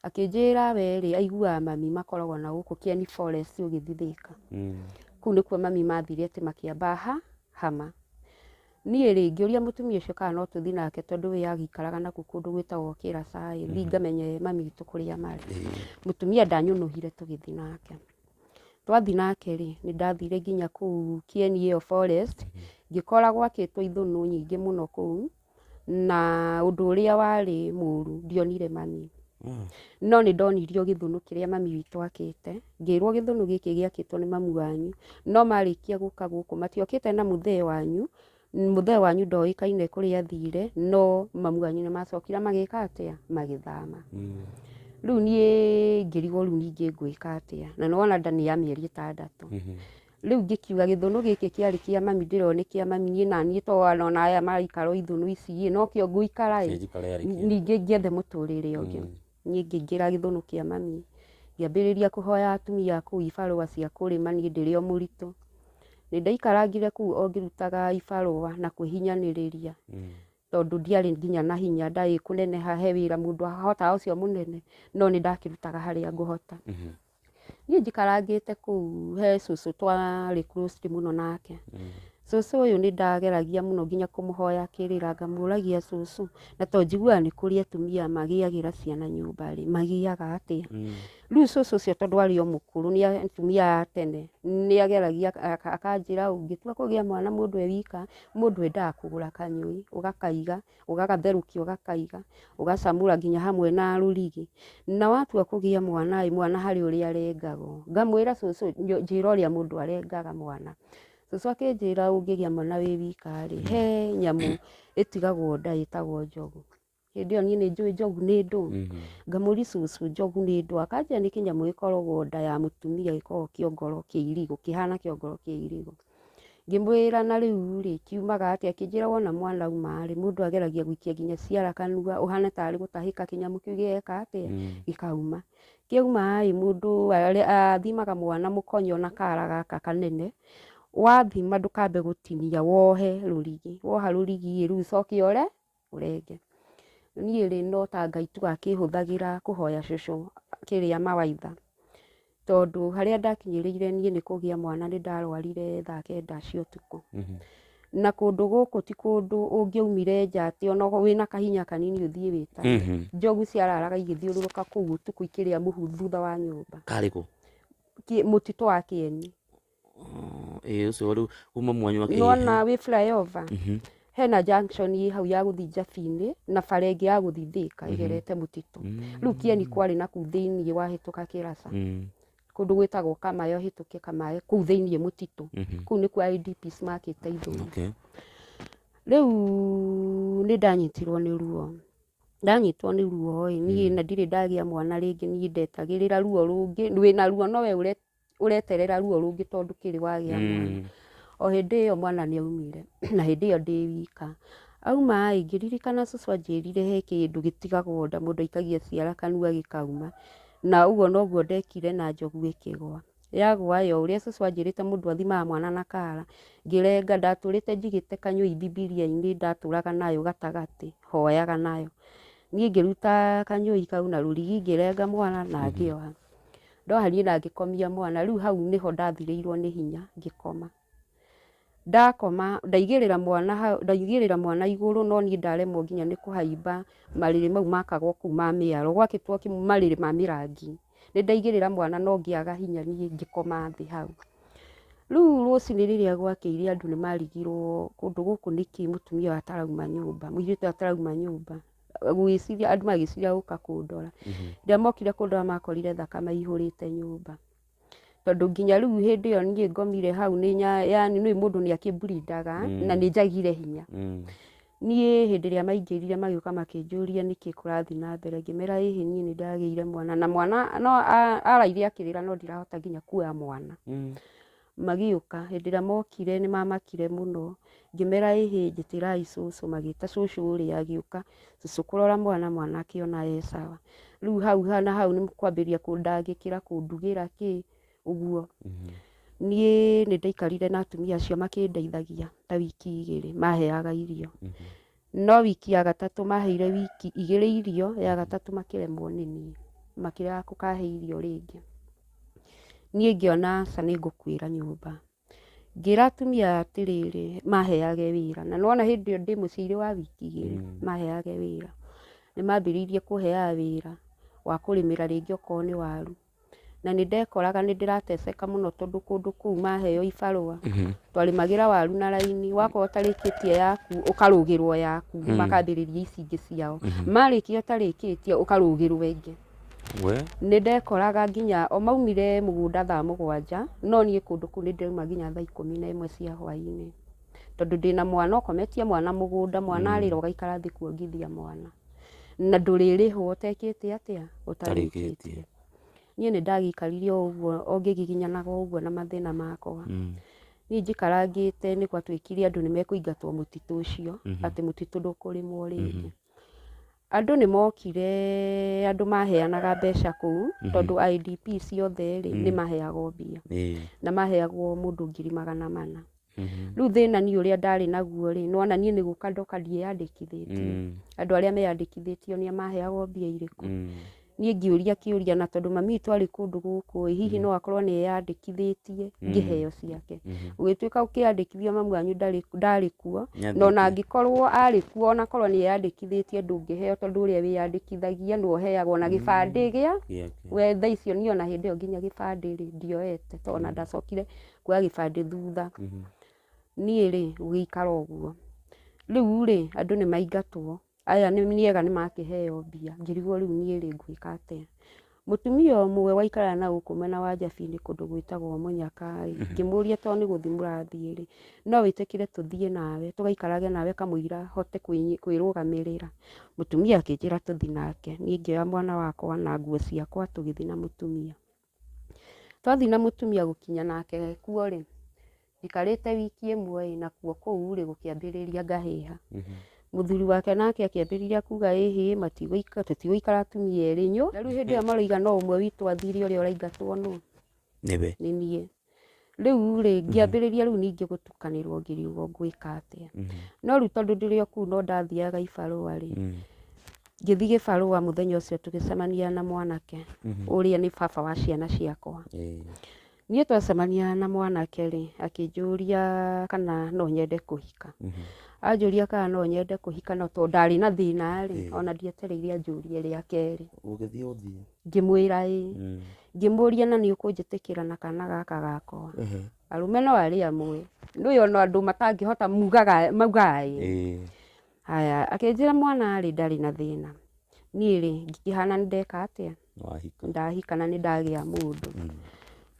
Akĩnjĩra we rĩ aiguaga mami makoragwo na gũkũ Kieni Forest ũgĩthiĩ Thika. Kũu nĩkuo mami mathire atĩ makĩamba ha Hama. Niĩ-rĩ, ngĩũria mũtumia ũcio kana no tũthiĩ nake tondũ we agĩikaraga na kũu kũndũ gwĩtagwo Kĩraca-ĩ, thiĩ ngamenye mami witũ kũrĩa marĩ. Mũtumia ndanyũnũhire tũgĩthiĩ nake. Twathiĩ nake-rĩ, nĩndathire nginya kũu Kĩeni ĩyo forest, ngĩkora gwakĩtwo ithũnũ nyingĩ mũno kũu, na ũndũ ũrĩa warĩ mũru, ndionire mami. No nĩndonirio gĩthũnũ kĩrĩa mami witũ akĩte. Ngĩĩrwo gĩthũnũ gĩkĩ gĩakĩtwo nĩ mamu wanyu, no marĩkia gũka gũkũ matiokĩte na mũthee wanyu, mũthee wanyu ndoĩkaine kũrĩa athiire, no mamu wanyu nĩ macokire magĩĩka atĩa? Magĩthama. Rĩu niĩ ngĩrigwo rĩu ningĩ ngwĩka atĩa, na nĩ wona nda nĩ ya mĩeri ĩtandatũ. Rĩu ngĩkiuga gĩthũnũ gĩkĩ kĩarĩ kĩa mami ndĩrona nĩ kĩa mami niĩ naniĩ to ona aya maraikara o ithũnũ ici-ĩ, no kĩo ngũikara-ĩ, Njikare arĩ kĩo. ningĩ ngĩethe mũtũrĩre ũngĩ. Niĩ ngĩingĩra gĩthũnũ kĩa mami, ngĩambĩrĩria kũhoya atumia kũu ibarũa cia kũrĩma niĩ ndĩrĩ o mũritũ. Nĩ ndaikarangire kũu o ngĩrutaga ibarũa na kwĩhinyanĩrĩria tondũ ndiarĩ nginya na hinya, ndarĩ kũneneha he wĩra mũndũ ahotaga ũcio mũnene, no nĩ ndakĩrutaga harĩa ngũhota. niĩ njikarangĩte kũu he cũcũ twarĩ close mũno nake cũcũ ũyũ nĩ ndageragia mũno nginya kũmũhoya kĩrĩra ngamũragia cũcũ na to njiguaga nĩ kũrĩ atumia magĩagĩra ciana nyũmba rĩ magiaga atĩa rĩu cũcũ ũcio tondũ arĩ o mũkũrũ nĩ atumia a tene nĩ ageragia akanjĩra ũngĩtua kũgĩa mwana mũndũ e wika mũndũ endaga kũgũra kanyũi ũgakaiga ũgagatherũkia ũgakaiga ũgacamũra nginya hamwe na rũrigi na watua kũgĩa mwana ĩ mwana harĩ ũrĩa arengagwo ngamwĩra cũcũ nyo- njĩra ũrĩa mũndũ arengaga mwana cũcũ akĩnjĩra ũngĩgĩa mwana wĩ wika rĩ he nyamũ ĩtigagwo nda ĩtagwo njogu hĩndĩ ĩyo niĩ nĩ njũĩ njogu nĩ ndũũ ngamũri cũcũ njogu nĩ ndũũ akanjĩra nĩ kĩnyamũ gĩkoragwo nda ya mũtumia gĩkoragwo kĩongoro kĩa irigũ kĩhana kĩongoro kĩa irigũ Ngĩmwĩra na rĩu-rĩ, kiumaga atĩa? Akĩnjĩra wona mwana auma-rĩ, mũndũ ageragia gũikia nginya ciara kanua, ũhane tarĩ gũtahĩka kĩnyamũ kĩu gĩgeka atĩa? Gĩkauma. Kĩauma-ĩ, mũndũ athimaga mwana mũkonyo na kara gaka kanene, wathima ndũkambe gũtinia, wohe rũrigi. Woha rũrigi-ĩ, rĩu ũcoke ũre. ũrenge niĩ rĩ no ta Ngai tu akĩhũthagĩra kũhoya cũcũ kĩrĩa mawaitha tondũ harĩa ndakinyĩrĩire niĩ nĩ kũgĩa mwana nĩ ndarwarire thaa kenda cia ũtukũ Mhm. na kũndũ gũkũ ti kũndũ ũngĩaumire nja atĩ ona wĩna kahinya kanini ũthiĩ wĩta Mhm. njogu ciararaga igĩthiũrũrũka kũu ũtukũ ikĩrĩa mũhu thutha wa nyũmba karĩkũ Ki- mũtitũ wa kĩeni Oh, ĩĩ ũcio rĩu kuma mwanyu wa nona wĩ flyover Mhm. hena junction ĩ hau ya gũthiĩ njabi-inĩ na bara ĩngĩ ya gũthiĩ thĩka ĩgerete mũtitũ rĩu kieni kwarĩ na kuu thĩiniĩ wahĩtũka kĩraca Mm, kũndũ gwĩtagwo kamae ũhĩtũke kamae kuu thĩiniĩ mũtitũ mhm. kuu nĩkuo IDPs makĩte ithũi Okay. rĩu nĩ ndanyitirwo nĩ ruo ndanyitwo nĩ ruo ĩ niĩ na ndirĩ ndagĩa mwana rĩngĩ niĩ ndetagĩrĩra ruo rũngĩ wĩna ruo nowe ũre ũreterera ruo rũngĩ tondũ ndũkĩrĩ wagĩa mwana Mm. o hĩndĩ ĩyo mwana nĩ aumire na hĩndĩ ĩyo ndĩ wika auma ĩ ngĩririkana cũcũ anjĩrire he kĩndũ gĩtigagwo nda mũndũ aikagia ciara kanua gĩkauma na ũguo noguo ndekire na njogu ĩkĩgwa yagwa yo ũrĩa cũcũ anjĩrĩte mũndũ athimaga mwana na kara ngĩrenga ndatũrĩte njigĩte kanyũi bibilia-inĩ ndatũraga nayo gatagatĩ hoyaga nayo niĩ ngĩruta kanyũi kau na rũrigi ngĩrenga mwana na ngĩoha Ndohariĩ na ngĩkomia mwana, rĩu hau nĩho ndathirĩirwo nĩ hinya ngĩkoma. Ndakoma ndaigĩrĩra mwana hau, ndaigĩrĩra mwana igũrũ no niĩ ndaremwo nginya nĩ kũhaimba marĩrĩ mau makagwo kũu ma mĩaro, gwakĩtwo kĩ- marĩrĩ ma mĩrangi. Nĩ ndaigĩrĩra mwana no ngĩaga hinya niĩ ngĩkoma thĩ hau. Rĩu rũcinĩ rĩrĩa gwakĩire andũ nĩ marigirwo kũndũ gũkũ nĩkĩ mũtumia ũyũ atarauma nyũmba, mũirĩtu ũyũ atarauma nyũmba. gũgĩciria andũ magĩciria gũka kũndora rĩrĩa mokire kũndora makorire thakame ihũrĩte nyũmba tondũ nginya rĩu hĩndĩ ĩyo niĩ ngomire hau nĩ nya- yani nĩ mũndũ nĩ akĩmburindaga na nĩ njagire hinya niĩ hĩndĩ ĩrĩa maingĩrire magĩũka makĩnjũria nĩkĩ kũrathiĩ na mbere ngĩmera ĩhĩ niĩ nĩ ndagĩire mwana na mwana no a- araire akĩrĩra no ndirahota nginya kuoya mwana Magĩũka, hĩndĩ ĩrĩa mokire nĩ mamakire mũno, ngĩmera ĩhĩ njĩtĩrai cũcũ, magĩta cũcũ ũrĩa agĩũka, cũcũ kũrora mwana, mwana akĩona e sawa, rĩu hau ha na hau nĩ kwambĩrĩria kũndangĩkĩra, kũndugĩra kĩ, ũguo, niĩ nĩ ndaikarire na atumia acio makĩndeithagia ta wiki igĩrĩ, maheaga irio. No wiki ya gatatũ maheire wiki igĩrĩ irio, ya gatatũ makĩremwo nĩ niĩ, makĩrega kũkahe irio rĩngĩ. Niĩ ngĩona aca nĩ ngũkuĩra nyũmba. Ngĩra atumia aya atĩrĩrĩ, maheage wĩra. Na nĩ wona hĩndĩ ĩyo ndĩ mũciĩ irĩ wa wiki igĩrĩ, maheage wĩra. Nĩ mambĩrĩirie kũheaga wĩra wa kũrĩmĩra rĩngĩ okorwo nĩ waru. na nĩ ndekoraga nĩ ndĩrateceka mũno tondũ kũndũ kũu maheo ibarũa twarĩmagĩra waru na raini wakorwo ũtarĩkĩtie yaku ũkarũgĩrwo yaku makambĩrĩria ici ingĩ ciao marĩkia ũtarĩkĩtie ũkarũgĩrwo ĩngĩ we nĩ ndekoraga nginya o maumire mũgũnda thaa mũgwanja no niĩ kũndũ kũu nĩ ndauma nginya thaa ikũmi na ĩmwe cia hwainĩ tondũ ndĩna mwana ũkometie mwana mũgũnda mwana arĩra ũgaikara thĩ kuongithia mwana na ndũrĩrĩhwo ũtekĩte atĩa ũtarĩkĩtie niĩ nĩ ndagĩikarire o ũguo o ngĩgiginyanaga o ũguo na mathĩna makwa Mm. niĩ njikarangĩte nĩ gwatuĩkire andũ nĩ mekũingatwo mũtitũ ũcio Mhm. atĩ mũtitũ ndũkũrĩmwo rĩngĩ andũ nĩ mokire andũ maheanaga mbeca kũu Mhm. tondũ IDP ciothe rĩ Mm. nĩ maheagwo mbia Ĩĩ. na maheagwo mũndũ ngiri magana mana rĩu thĩna niĩ ũrĩa ndarĩ naguo rĩ nĩwona niĩ nĩ gũka ndoka ndiĩyandĩkithĩtie Mm. andũ arĩa meyandĩkithĩtio nĩa maheagwo mbia irĩkũ Mm. niĩ ngĩũria kĩũria na tondũ mami witũ arĩ kũndũ gũkũ ĩ hihi no akorwo nĩ eyandĩkithĩtie ngĩheo ciake Mhm. ũgĩtuĩka ũkĩyandĩkithia mamu wanyu ndarĩ ndarĩ kuo Nĩathĩte. na ona angĩkorwo arĩ kuo ona korwo nĩ eyandĩkithĩtie ndũngĩheo tondũ ũrĩa wĩyandĩkithagia nĩ ũheagwo na gĩbandĩ gĩa Gĩake. we thaa icio niĩ ona hĩndĩ ĩyo nginya gĩbandĩ rĩ ndioete tondũ ona ndacokire kuoya gĩbandĩ thutha niĩ rĩ gũgĩikara ũguo rĩu rĩ andũ nĩ maingatwo aya nĩ nĩgetha nĩ makĩheo mbia ngĩrigwo rĩu niĩ rĩ ngwĩka atĩa mũtumia ũmwe waikaraga na gũkũ mwena wa njabiri kũndũ gwĩtagwo mũnyaka rĩ ngĩmũria tondũ nĩ gũthiĩ mũrathiĩ rĩ no wĩtĩkĩre tũthiĩ nawe tũgaikarage nawe kamũira hote kwĩ kwĩrũgamĩrĩra mũtumia akĩnjĩra tũthiĩ nake niĩ ngĩoya mwana wakwa na nguo ciakwa tũgĩthiĩ na mũtumia. Twathiĩ na mũtumia gũkinya nake kuo rĩ, njikarĩte wiki ĩmwe ĩ, nakuo kũu rĩ gũkĩambĩrĩria ngahĩha. Mũthuri wake nake akĩambĩrĩria kuga ĩ hĩ matigũikara tũtigũikara atumia erĩ nyũ. Na rĩu hĩndĩ ĩyo maroiga no ũmwe witũ athire ũrĩa ũraingatwo nũ? Nĩwe. Nĩ niĩ. rĩu rĩ ngĩambĩrĩria rĩu ningĩ gũtukanĩrwo ngĩriugo ngwĩka atĩa no rĩu tondũ ndĩrĩ o kũu no ndathiaga ibarũa rĩ ngĩthiĩ gĩbarũa mũthenya ũcio tũgĩcemania na mwanake ũrĩa nĩ baba wa ciana ciakwa niĩ twacemania na mwanake rĩ akĩnjũria kana no nyende kũhika anjũria kana no nyende kũhika no tondũ ndarĩ na thĩna rĩ ona ndietereire anjũrie rĩa kerĩ ũgĩthiĩ ũthiĩ Ngĩmwĩra ĩ. Mm. Ngĩmũria na nĩ ũkũnjĩtĩkĩra na kana gaka gakwa. Ehe. Arũme no arĩ amwe. Ndũĩ ona andũ matangĩhota mugaga maugaga ĩ. Ĩĩ. Haya, akĩnjĩra mwana rĩ ndarĩ na thĩna. Niĩ rĩ, ngĩkĩhana nĩ ndeka atĩa? Wahika. Ndahika na nĩ ndagĩa mũndũ. Mm.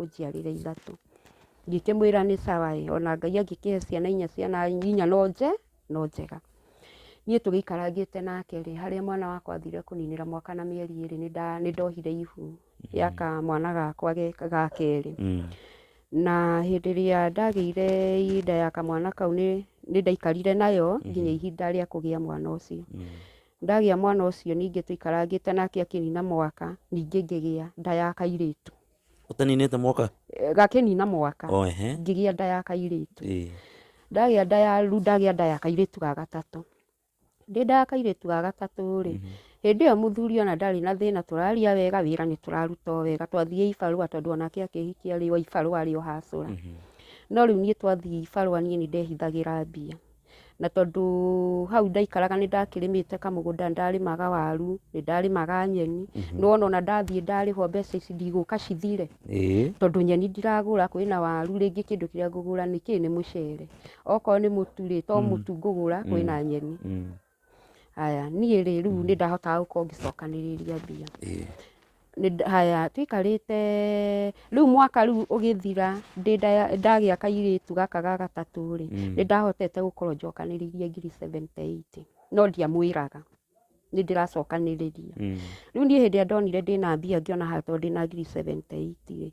ũnjiarĩre ithatũ. Ngĩkĩmwĩra nĩ sawa ĩ, o na Ngai angĩkĩhe ciana inya, ciana inya no nje, no njega. Niĩ tũgĩikarangĩte nake rĩ, harĩa mwana wakwa athire kũninĩra mwaka na mĩeri ĩrĩ, nĩ nda, nĩ ndohire ihu rĩa kamwana gakwa ge, ga kerĩ. Na hĩndĩ ĩrĩa ndagĩire nda ya kamwana kau nĩ, nĩ ndaikarire nayo nginya ihinda rĩa kũgĩa mwana ũcio. Ndagĩa mwana ũcio ningĩ tũikarangĩte nake akĩnina mwaka, ningĩ ngĩgĩa nda ya kairĩtu. ũtaninĩte mwaka Eh, gakĩnina mwaka o ehe ngĩgĩa nda ya kairĩtu ĩĩ ndagĩa nda ya rĩu ndagĩa nda ya kairĩtu ga gatatũ ndĩ nda ya kairĩtu ga gatatũ rĩ hĩndĩ ĩyo mũthuri ona ndarĩ na thĩna tũraria wega wĩra nĩ tũraruta o wega twathiĩ ibarũa tondũ onake akĩhikia rĩ wa ibarũa arĩ o hacũra no rĩu niĩ twathiĩ ibarũa niĩ nĩ ndehithagĩra mbia na tondũ hau ndaikaraga nĩ ndakĩrĩmĩte kamũgũnda nĩ ndarĩmaga waru nĩ ndarĩmaga nyeni nĩ wona ona ndathiĩ ndarĩhwo mbeca ici ndigũka cithire ĩĩ tondũ nyeni ndiragũra kwĩna waru rĩngĩ kĩndũ kĩrĩa ngũgũra nĩ kĩĩ nĩ mũcere okorwo nĩ mũtu rĩ to mũtu ngũgũra kwĩna nyeni Mm. Haya, niĩ rĩ rĩu nĩ ndahotaga gũkorwo ngĩcokanĩrĩria mbia. Ĩĩ. Nĩ nda- Haya, tũikarĩte rĩu mwaka rĩu ũgĩthira ndĩ nda- ndagĩa kairĩtu gaka ga gatatũ rĩ, Mm. nĩ ndahotete gũkorwo njokanĩrĩirie ngiri seventy eight. No ndiamwĩraga nĩ ndĩracokanĩrĩria. Mm. Rĩu niĩ hĩndĩ ĩrĩa ndonire ndĩna mbia ngĩona haha tondũ ndĩna ngiri seventy eight rĩ,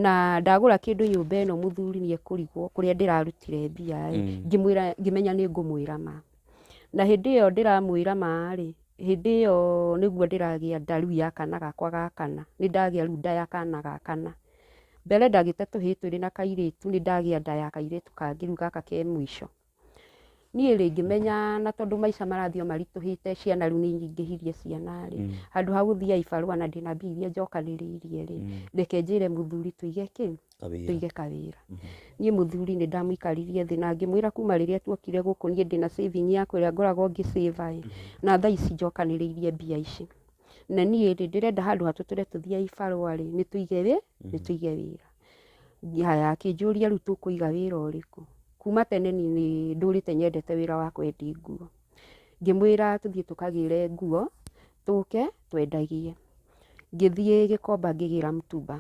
na ndagũra kĩndũ nyũmba ĩno mũthuri nĩ ekũrigwo kũrĩa ndĩrarutire mbia rĩ, Mm. ngĩmwĩra ngĩmenya nĩ ngũmwĩra ma. Na hĩndĩ ĩyo ndĩramwĩra ma-rĩ, hĩndĩ ĩyo nĩguo ndĩragĩa nda rĩu ya kana gakwa ga kana, nĩ ndagĩa rĩu nda ya kana ga kana. Mbere ndagĩte tũhĩĩ twĩrĩ na kairĩtu, nĩ ndagĩa nda ya kairĩtu kangĩ rĩu gaka ke mũico. Niĩ-rĩ ngĩmenya na tondũ maica marathiĩ o maritũhĩte, ciana rĩu nĩ nyingĩhirie ciana-rĩ, handũ ha gũthiĩ Ibarũa na ndĩna mbia iria njokanĩrĩirie-rĩ, reke njĩre mũthuri tũige kĩ? kawĩra tũige kawĩra niĩ mũthuri nĩ ndamũikaririe thĩ na ngĩmwĩra kuma rĩrĩa tuokire gũkũ niĩ ndĩna saving yakwa ĩrĩa ngoragwo ngĩ save ĩ na thaa ici njokanĩrĩirie mbia ici na niĩ rĩ ndĩrenda handũ hatũtũre tũthiĩ ibarũa rĩ nĩ tũige wĩ nĩ tũige wĩra haya akĩnjũria rĩu tũkũiga wĩra ũrĩkũ kuma tene niĩ nĩ ndũrĩte nyendete wĩra wa kwendia nguo Ngĩmwĩra tũthiĩ tũkagĩre nguo, tũke twendagie. Ngĩthiĩ Gĩkomba ngĩgĩra mũtumba.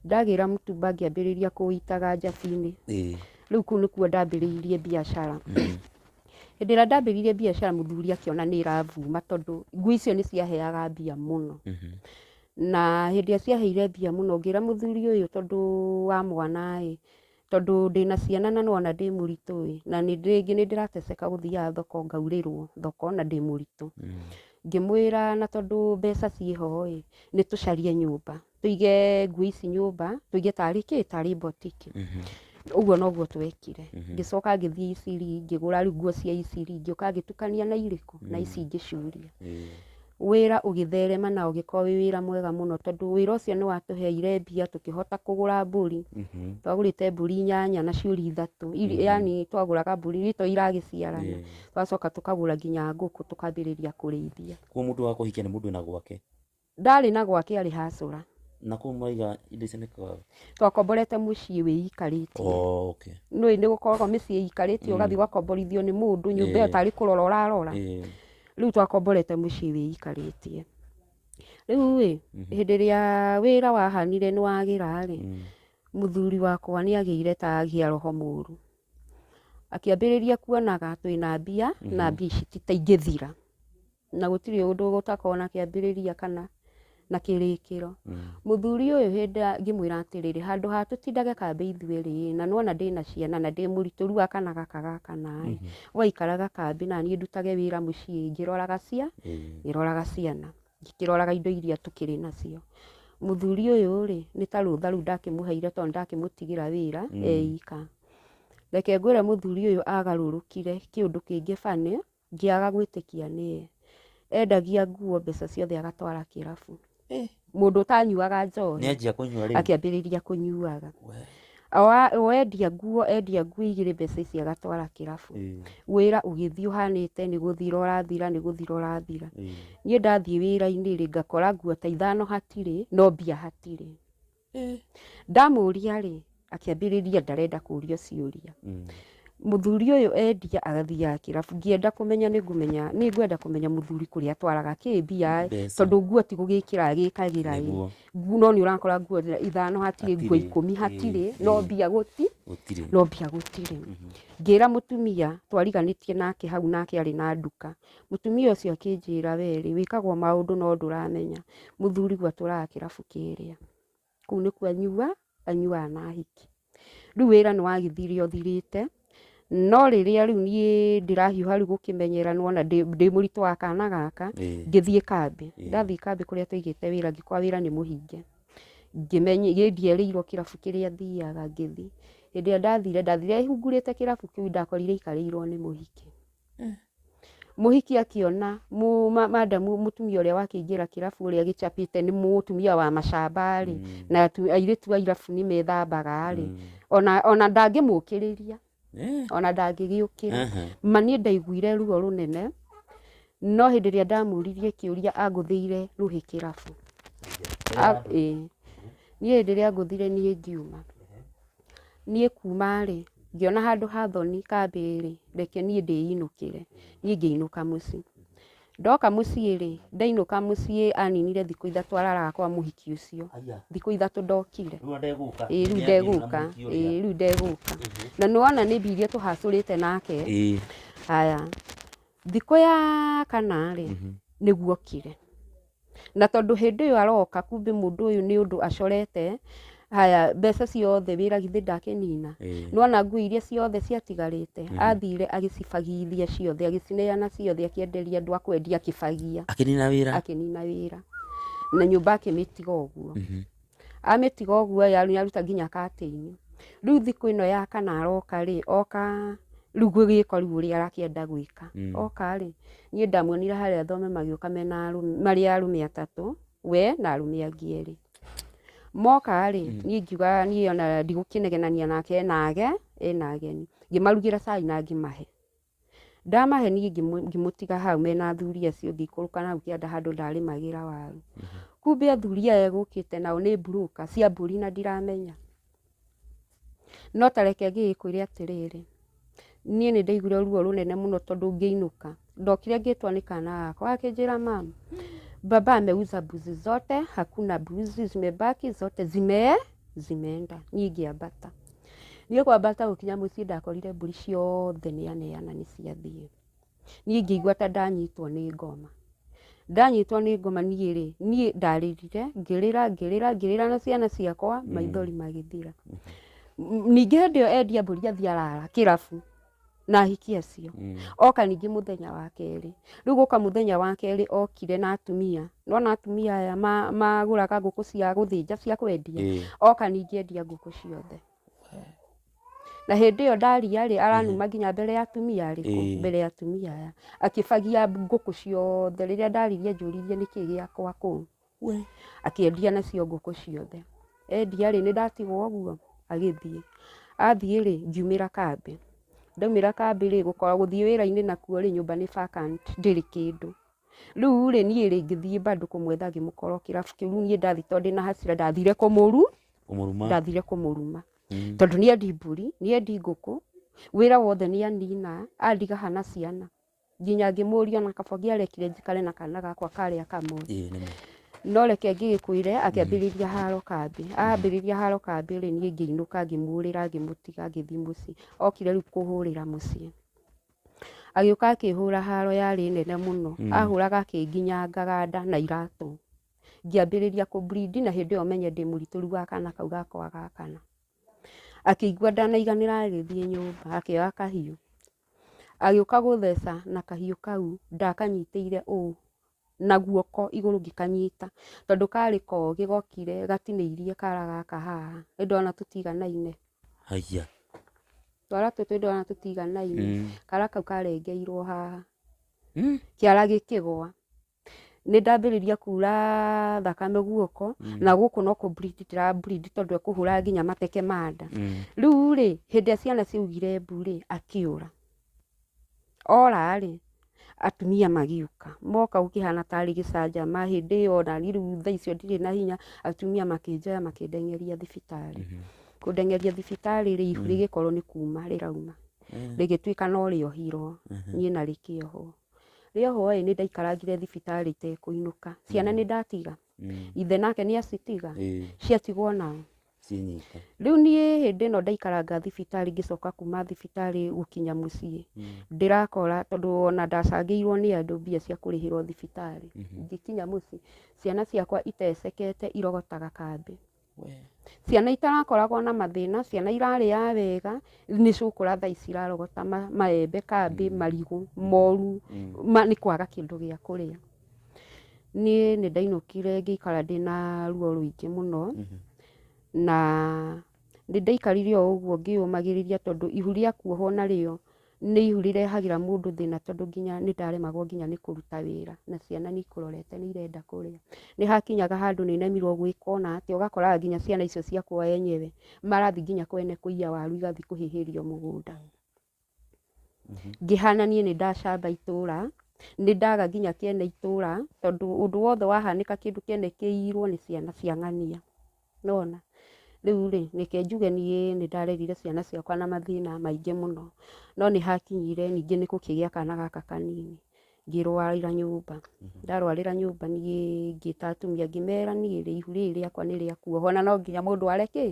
Ndagĩra mũtumba ngĩambĩrĩria kũũitaga njati-inĩ. Ĩĩ. Rĩu kũu nĩkuo ndambĩrĩirie biacara. Hĩndĩ ĩrĩa ndambĩrĩirie biacara mũthuri akĩona nĩ ĩrabuma tondũ nguo icio nĩ ciaheaga mbia mũno. Na hĩndĩ ĩrĩa ciaheire mbia mũno ngĩra mũthuri ũyũ tondũ wa mwana-ĩ, Tondũ ndĩ na ciana na nĩwona ndĩ mũritũ-ĩ, na rĩngĩ nĩndĩrateseka gũthiaga thoko ngaurĩrwo thoko na ndĩ mũritũ. Ngĩmwĩra na tondũ mbeca ciĩ ho-ĩ, nĩtũcarie nyũmba, tũige nguo ici nyũmba, tũige tarĩ kĩ? Tarĩ botiki. Ũguo noguo twekire. Ngĩcoka ngĩthiĩ Eastleigh ngĩgũra rĩu nguo cia Eastleigh, ngĩũka ngĩtukania na irĩkũ? Na ici ingĩ ciũria. wĩra ũgĩtherema na ũgĩkorwo wĩ wĩra mwega mũno tondũ wĩra ũcio nĩ watũheire mbia tũkĩhota kũgũra mbũri twagũrĩte mbũri inyanya na ciũri ithatũ Iri- yani twagũraga mbũri iria to iragĩciarana Yeah. twacoka tũkagũra nginya ngũkũ tũkambĩrĩria kũrĩithia kuo mũndũ wa kũhikia nĩ mũndũ wĩna gwake ndarĩ na gwake arĩ hacũra na kũu mwaiga indo icio nĩkaga twakomborete mũciĩ wĩikarĩtie oh, okay. nĩ nĩ gũkoragwo mĩciĩ ĩikarĩtie ũgathiĩ ũgakomborithio nĩ mũndũ nyũmba ĩyo Yeah. tarĩ kũrora ũrarora Eh, rĩu twakomborete mũciĩ wĩikarĩtie rĩu rĩ hĩndĩ ĩrĩa wĩra wahanire nĩ wagĩra rĩ mũthuri wakwa nĩ agĩire ta agĩa roho mũru akĩambĩrĩria kuonaga twĩna mbia na mbia ici ti ta ingĩthira na gũtirĩ ũndũ gũtakoragwo na kĩambĩrĩria kana na kĩrĩkĩro mũthuri ũyũ hĩndĩ ngĩmwĩra atĩrĩrĩ handũ ha tũtindage kambĩ ithuerĩ na nona ndĩna ciana na ndĩ mũritũ rĩu akana gaka gakana ĩ waikaraga kambĩ naniĩ ndutage wĩra mũciĩ ngĩroraga cia ngĩroraga ciana ngĩkĩroraga indo iria tũkĩrĩ nacio mũthuri ũyũ rĩ nĩ ta rũtha rĩu ndakĩmũheire tondũ ndakĩmũtigĩra wĩra eika reke ngwĩre mũthuri ũyũ agarũrũkire kĩũndũ kĩngĩ funny Ngĩaga gwĩtĩkia nĩye. Endagia nguo mbeca ciothe agatwara kĩrabu. Eh. Mũndũ ũtanyuaga njohi. Nĩanjia kũnyua rĩu. Akĩambĩrĩria kũnyuaga. Wendia nguo endia nguo igĩrĩ mbeca ici agatwara kĩrabu. Wĩra ũgĩthiĩ ũhanĩte nĩ gũthira ũrathira nĩ gũthira ũrathira. Niĩ ndathiĩ wĩra-inĩ rĩ ngakora nguo ta ithano hatirĩ no mbia hatirĩ. Eh. ndamũria rĩ akĩambĩrĩria ndarenda kũrio ciũria Mm. mũthuri ũyũ endia agathiaga kĩrabu ngĩenda kũmenya nĩngũmenya nĩngwenda kũmenya mũthuri kũrĩa atwaraga kĩ mbia ĩ, Mbeca. tondũ nguo ti gũgĩkĩra gĩkagĩra ĩ Nĩguo. nguo no nĩ ũrakora nguo ithano hatirĩ nguo Hatirĩ. ikũmi hatirĩ Ĩ, no ĩ. mbia gũti Gũtirĩ. no mbia gũtirĩ ngĩra mũtumia twariganĩtie nake hau nake arĩ na nduka Mũtumia ũcio akĩnjĩra, wee rĩ, wĩkagwo maũndũ no ndũramenya, mũthuriguo atũraga kĩrabu kĩrĩa. Kũu nĩ kũanyua, anyuaga na ahiki. Rĩu wĩra nĩ wagĩthire ũthirĩte, no rĩrĩa rĩu niĩ ndĩrahiũha rĩu gũkĩmenyera nĩ wona ndĩ, ndĩ mũritũ wa kana gaka, Ĩĩ. ngĩthiĩ kambĩ. Ĩĩ. Ndathiĩ kambĩ kũrĩa twaigĩte wĩra ngĩkora wĩra nĩ mũhinge. Ngĩmenye, gĩ ndierĩirwo kĩrabu kĩrĩa thiaga ngĩthiĩ. Hĩndĩ ĩrĩa ndathire, ndathire hungurĩte kĩrabu kĩu ndakorire aikarĩirwo nĩ mũhiki. Mũhiki akĩona madam mũtumia ũrĩa wakĩingĩra kĩrabu ũrĩa gĩcapĩte nĩ mũtumia wa macamba rĩ, na airĩtu a irabu nĩ methambaga rĩ, ona ndangĩmũkĩrĩria, ona ndangĩgĩũkĩra. Ma niĩ ndaiguire ruo rũnene, no hĩndĩ ĩrĩa ndamũririe kĩũria angũthĩire rũhĩ kĩrabu. Ĩĩ. Niĩ hĩndĩ ĩrĩa angũthire niĩ ngiuma. Niĩ kuuma-rĩ, ngĩona handũ ha thoni kambĩ-rĩ, reke niĩ ndĩinũkĩre, niĩ ngĩinũka mũciĩ. Ndoka mũciĩ-rĩ, ndainũka mũciĩ aninire thikũ ithatũ araraga kwa mũhiki ũcio, thikũ ithatũ ndokire, ĩĩ rĩu ndegũka, ĩĩ rĩu ndegũka. Na nĩwona nĩ mbia iria tũhacũrĩte nake, haya, thikũ ya kana-rĩ, nĩguo okire. na tondũ hĩndĩ ĩyo aroka kumbe mũndũ ũyũ nĩ ũndũ acorete haya mbeca ciothe wĩra githĩ ndakĩnina Ĩĩ. nĩwona nguo iria ciothe ciatigarĩte athire agĩcibagithia ciothe agĩcineana ciothe akĩenderia andũ a kwendia akĩbagia akĩnina wĩra akĩnina wĩra na nyũmba akĩmĩtiga ũguo amĩtiga ũguo ĩ nĩ aruta nginya katĩinĩ rĩu thikũ ĩno ya kana aroka rĩ oka rĩu gwĩka rĩu ũrĩa arakĩenda gwĩka Mm. oka rĩ niĩ ndamuonire harĩa thome magĩũka mena arũme- marĩ arũme atatũ we na arũme angĩ erĩ moka rĩ Mm. niĩ ngiuga niĩ ona ndigũkĩnegenania nake enage ena ageni ngĩmarugĩra cai na ngĩmahe ndamahenia ngĩmũ- ngĩmũtiga hau mena athuri acio ngĩikũrũka na hau kĩanda handũ ndarĩmagĩra waru kumbe athuri aya gũkĩte nao nĩ mburuka cia mbũri na ndiramenya no ta reke ngĩgĩkwĩre atĩrĩrĩ niĩ nĩ ndaiguire ruo rũnene mũno tondũ ngĩinũka ndokire ngĩtwa nĩ kana gakwa gakĩnjĩra mama baba ameuza mbuzi zote hakuna mbuzi zimebaki zote zimee zimeenda niĩ ngĩambata niĩ kwambata gũkinya mũciĩ ndakorire mbũri ciothe nĩaneana nĩ ciathiĩ niĩ ngĩigua ta ndanyitwo nĩ ngoma ndanyitwo nĩ ngoma niĩ rĩ niĩ ndarĩrire ngĩrĩra ngĩrĩra ngĩrĩra na ciana ciakwa maithori magĩthira ningĩ hĩndĩ ĩyo endia mbũri athiĩ arara kĩrabu na ahiki acio Mm. oka ningĩ mũthenya wa kerĩ rĩu gũka mũthenya wa kerĩ okire na atumia nona atumia aya ma- magũraga ngũkũ cia gũthĩnja cia kwendia Ĩĩ. oka ningĩ endia ngũkũ ciothe na hĩndĩ ĩyo ndaria rĩ aranuma nginya mbere ya atumia arĩkũ Ĩĩ. mbere ya atumia aya akĩbagia ngũkũ ciothe rĩrĩa ndaririe njũririe nĩkĩ gĩakwa kũu Akĩendia nacio ngũkũ ciothe. Endia rĩ, nĩndatigwo ũguo? Agĩthiĩ. Athiĩ rĩ, ngiumĩra kambĩ. Ndaumĩra kambĩ rĩ, gũkorwo gũthiĩ wĩra-inĩ nakuo rĩ, nyũmba nĩ vacant, ndĩrĩ kĩndũ. Rĩu rĩ, niĩ rĩ, ngĩthiĩ bado kũmwetha ngĩmũkora o kĩrabu kĩu. Rĩu niĩ ndathiĩ tondũ ndĩna hasira, ndathire kũmũru, Kũmũruma. ndathire kũmũruma. Mm. Tondũ nĩendi mbũri, nĩendi ngũkũ, wĩra wothe nĩanina, andiga ha na ciana. nginya ngĩmũria ona kaba ngĩarekire njikare na kana gakwa karĩa kamwe ĩĩ nĩ ma no reke ngĩgĩkwĩre akĩambĩrĩria haro kambĩ ambĩrĩria haro kambĩ rĩ niĩ ngĩinũka ngĩmũrĩra ngĩmũtiga ngĩthiĩ mũciĩ okire rĩu kũhũrĩra mũciĩ agĩũka akĩhũra haro yarĩ nene mũno Mm. ahũraga akĩnginyangaga nda na iratũ ngĩambĩrĩria kũ bleed na hĩndĩ ĩyo menye ndĩ mũritũru wa kana kau gakwa gakana akĩigua ndanaiganĩra agĩthiĩ nyũmba akĩoya kahiũ agĩũka gũtheca na kahiũ kau ndakanyitĩire ũũ na guoko igũrũ ngĩkanyita tondũ karĩ kogĩ gokire gatinĩirie kara gaka haha nĩ ndona tũtiganaine Haiya. twara tũtũ nĩ ndona tũtiganaine Mm. kara kau karengeirwo haha Mm. kĩara gĩkĩgwa nĩ ndambĩrĩria kuura thakame guoko Mm. na gũkũ no kũ bleed ndĩra bleed tondũ ekũhũra nginya mateke ma nda Mm. rĩu rĩ hĩndĩ ĩrĩa ciana ciaugire mbu rĩ akĩũra ora rĩ atumia magĩũka moka gũkĩhana tarĩ gĩcanjama hĩndĩ ĩyo nani rĩu thaa icio ndirĩ na hinya atumia makĩnjoya makĩndengeria thibitarĩ Mhm. kũndengeria thibitarĩ rĩ ihu Mm. rĩgĩkorwo nĩ kuma rĩrauma Mm. rĩgĩtuĩka no rĩohirwo Mhm. niĩ na rĩkĩohwo rĩa ũhoro ĩ nĩ ndaikarangire thibitarĩ itekũinũka ciana nĩ ndatiga Mm. ithe nake nĩ acitiga Ĩĩ, ciatigwo nao cinyite. rĩu niĩ hĩndĩ ĩno ndaikaranga thibitarĩ ngĩcoka kuma thibitarĩ gũkinya mũciĩ Mm. ndĩrakora tondũ ona ndacangĩirwo nĩ andũ mbia cia kũrĩhĩrwo thibitarĩ Mhm. ngĩkinya mũciĩ ciana ciakwa itecekete irogotaga kambĩ Ciana itarakoragwo na mathĩna, ciana irarĩaga wega, nĩ cigũkũra thaa ici irarogota maembe, kambĩ, marigũ moru nĩ kwaga kĩndũ gĩa kũrĩa. Niĩ nĩ ndainũkire ngĩikara ndĩna ruo rũingĩ mũno, na nĩ ndaikarire o ũguo ngĩyũmagĩrĩria tondũ ihu rĩa kuohwo narĩo. Nĩ ihu rĩrehagĩra mũndũ thĩna tondũ nginya nĩ ndaremagwo nginya nĩ kũruta wĩra na ciana nĩ ikũrorete nĩ irenda kũrĩa. Nĩ hakinyaga handũ nĩ nemirwo gwĩka ona atĩa ũgakoraga nginya ciana icio ciakwa enyewe marathi nginya kwene kũiya waru igathi kũhĩhĩrio mũgũnda. Ngĩhana niĩ nĩ ndacamba itũra, nĩ ndaga nginya kĩene itũra tondũ ũndũ wothe wahanĩka kĩndũ kĩene kĩiyirwo nĩ ciana cia ng'ania. Nĩwona? Rĩu-rĩ, reke njuge niĩ nĩndarerire ciana ciakwa na mathĩna maingĩ mũno, no nĩhakinyire ningĩ nĩ gũkĩgĩa kana gaka kanini, ngĩrwarĩra nyũmba. Ndarwarĩra nyũmba niĩ ngĩta atumia ngĩmera niĩ-rĩ, ihu rĩrĩ rĩakwa nĩrĩakuoha, ona no nginya mũndũ ware kĩ?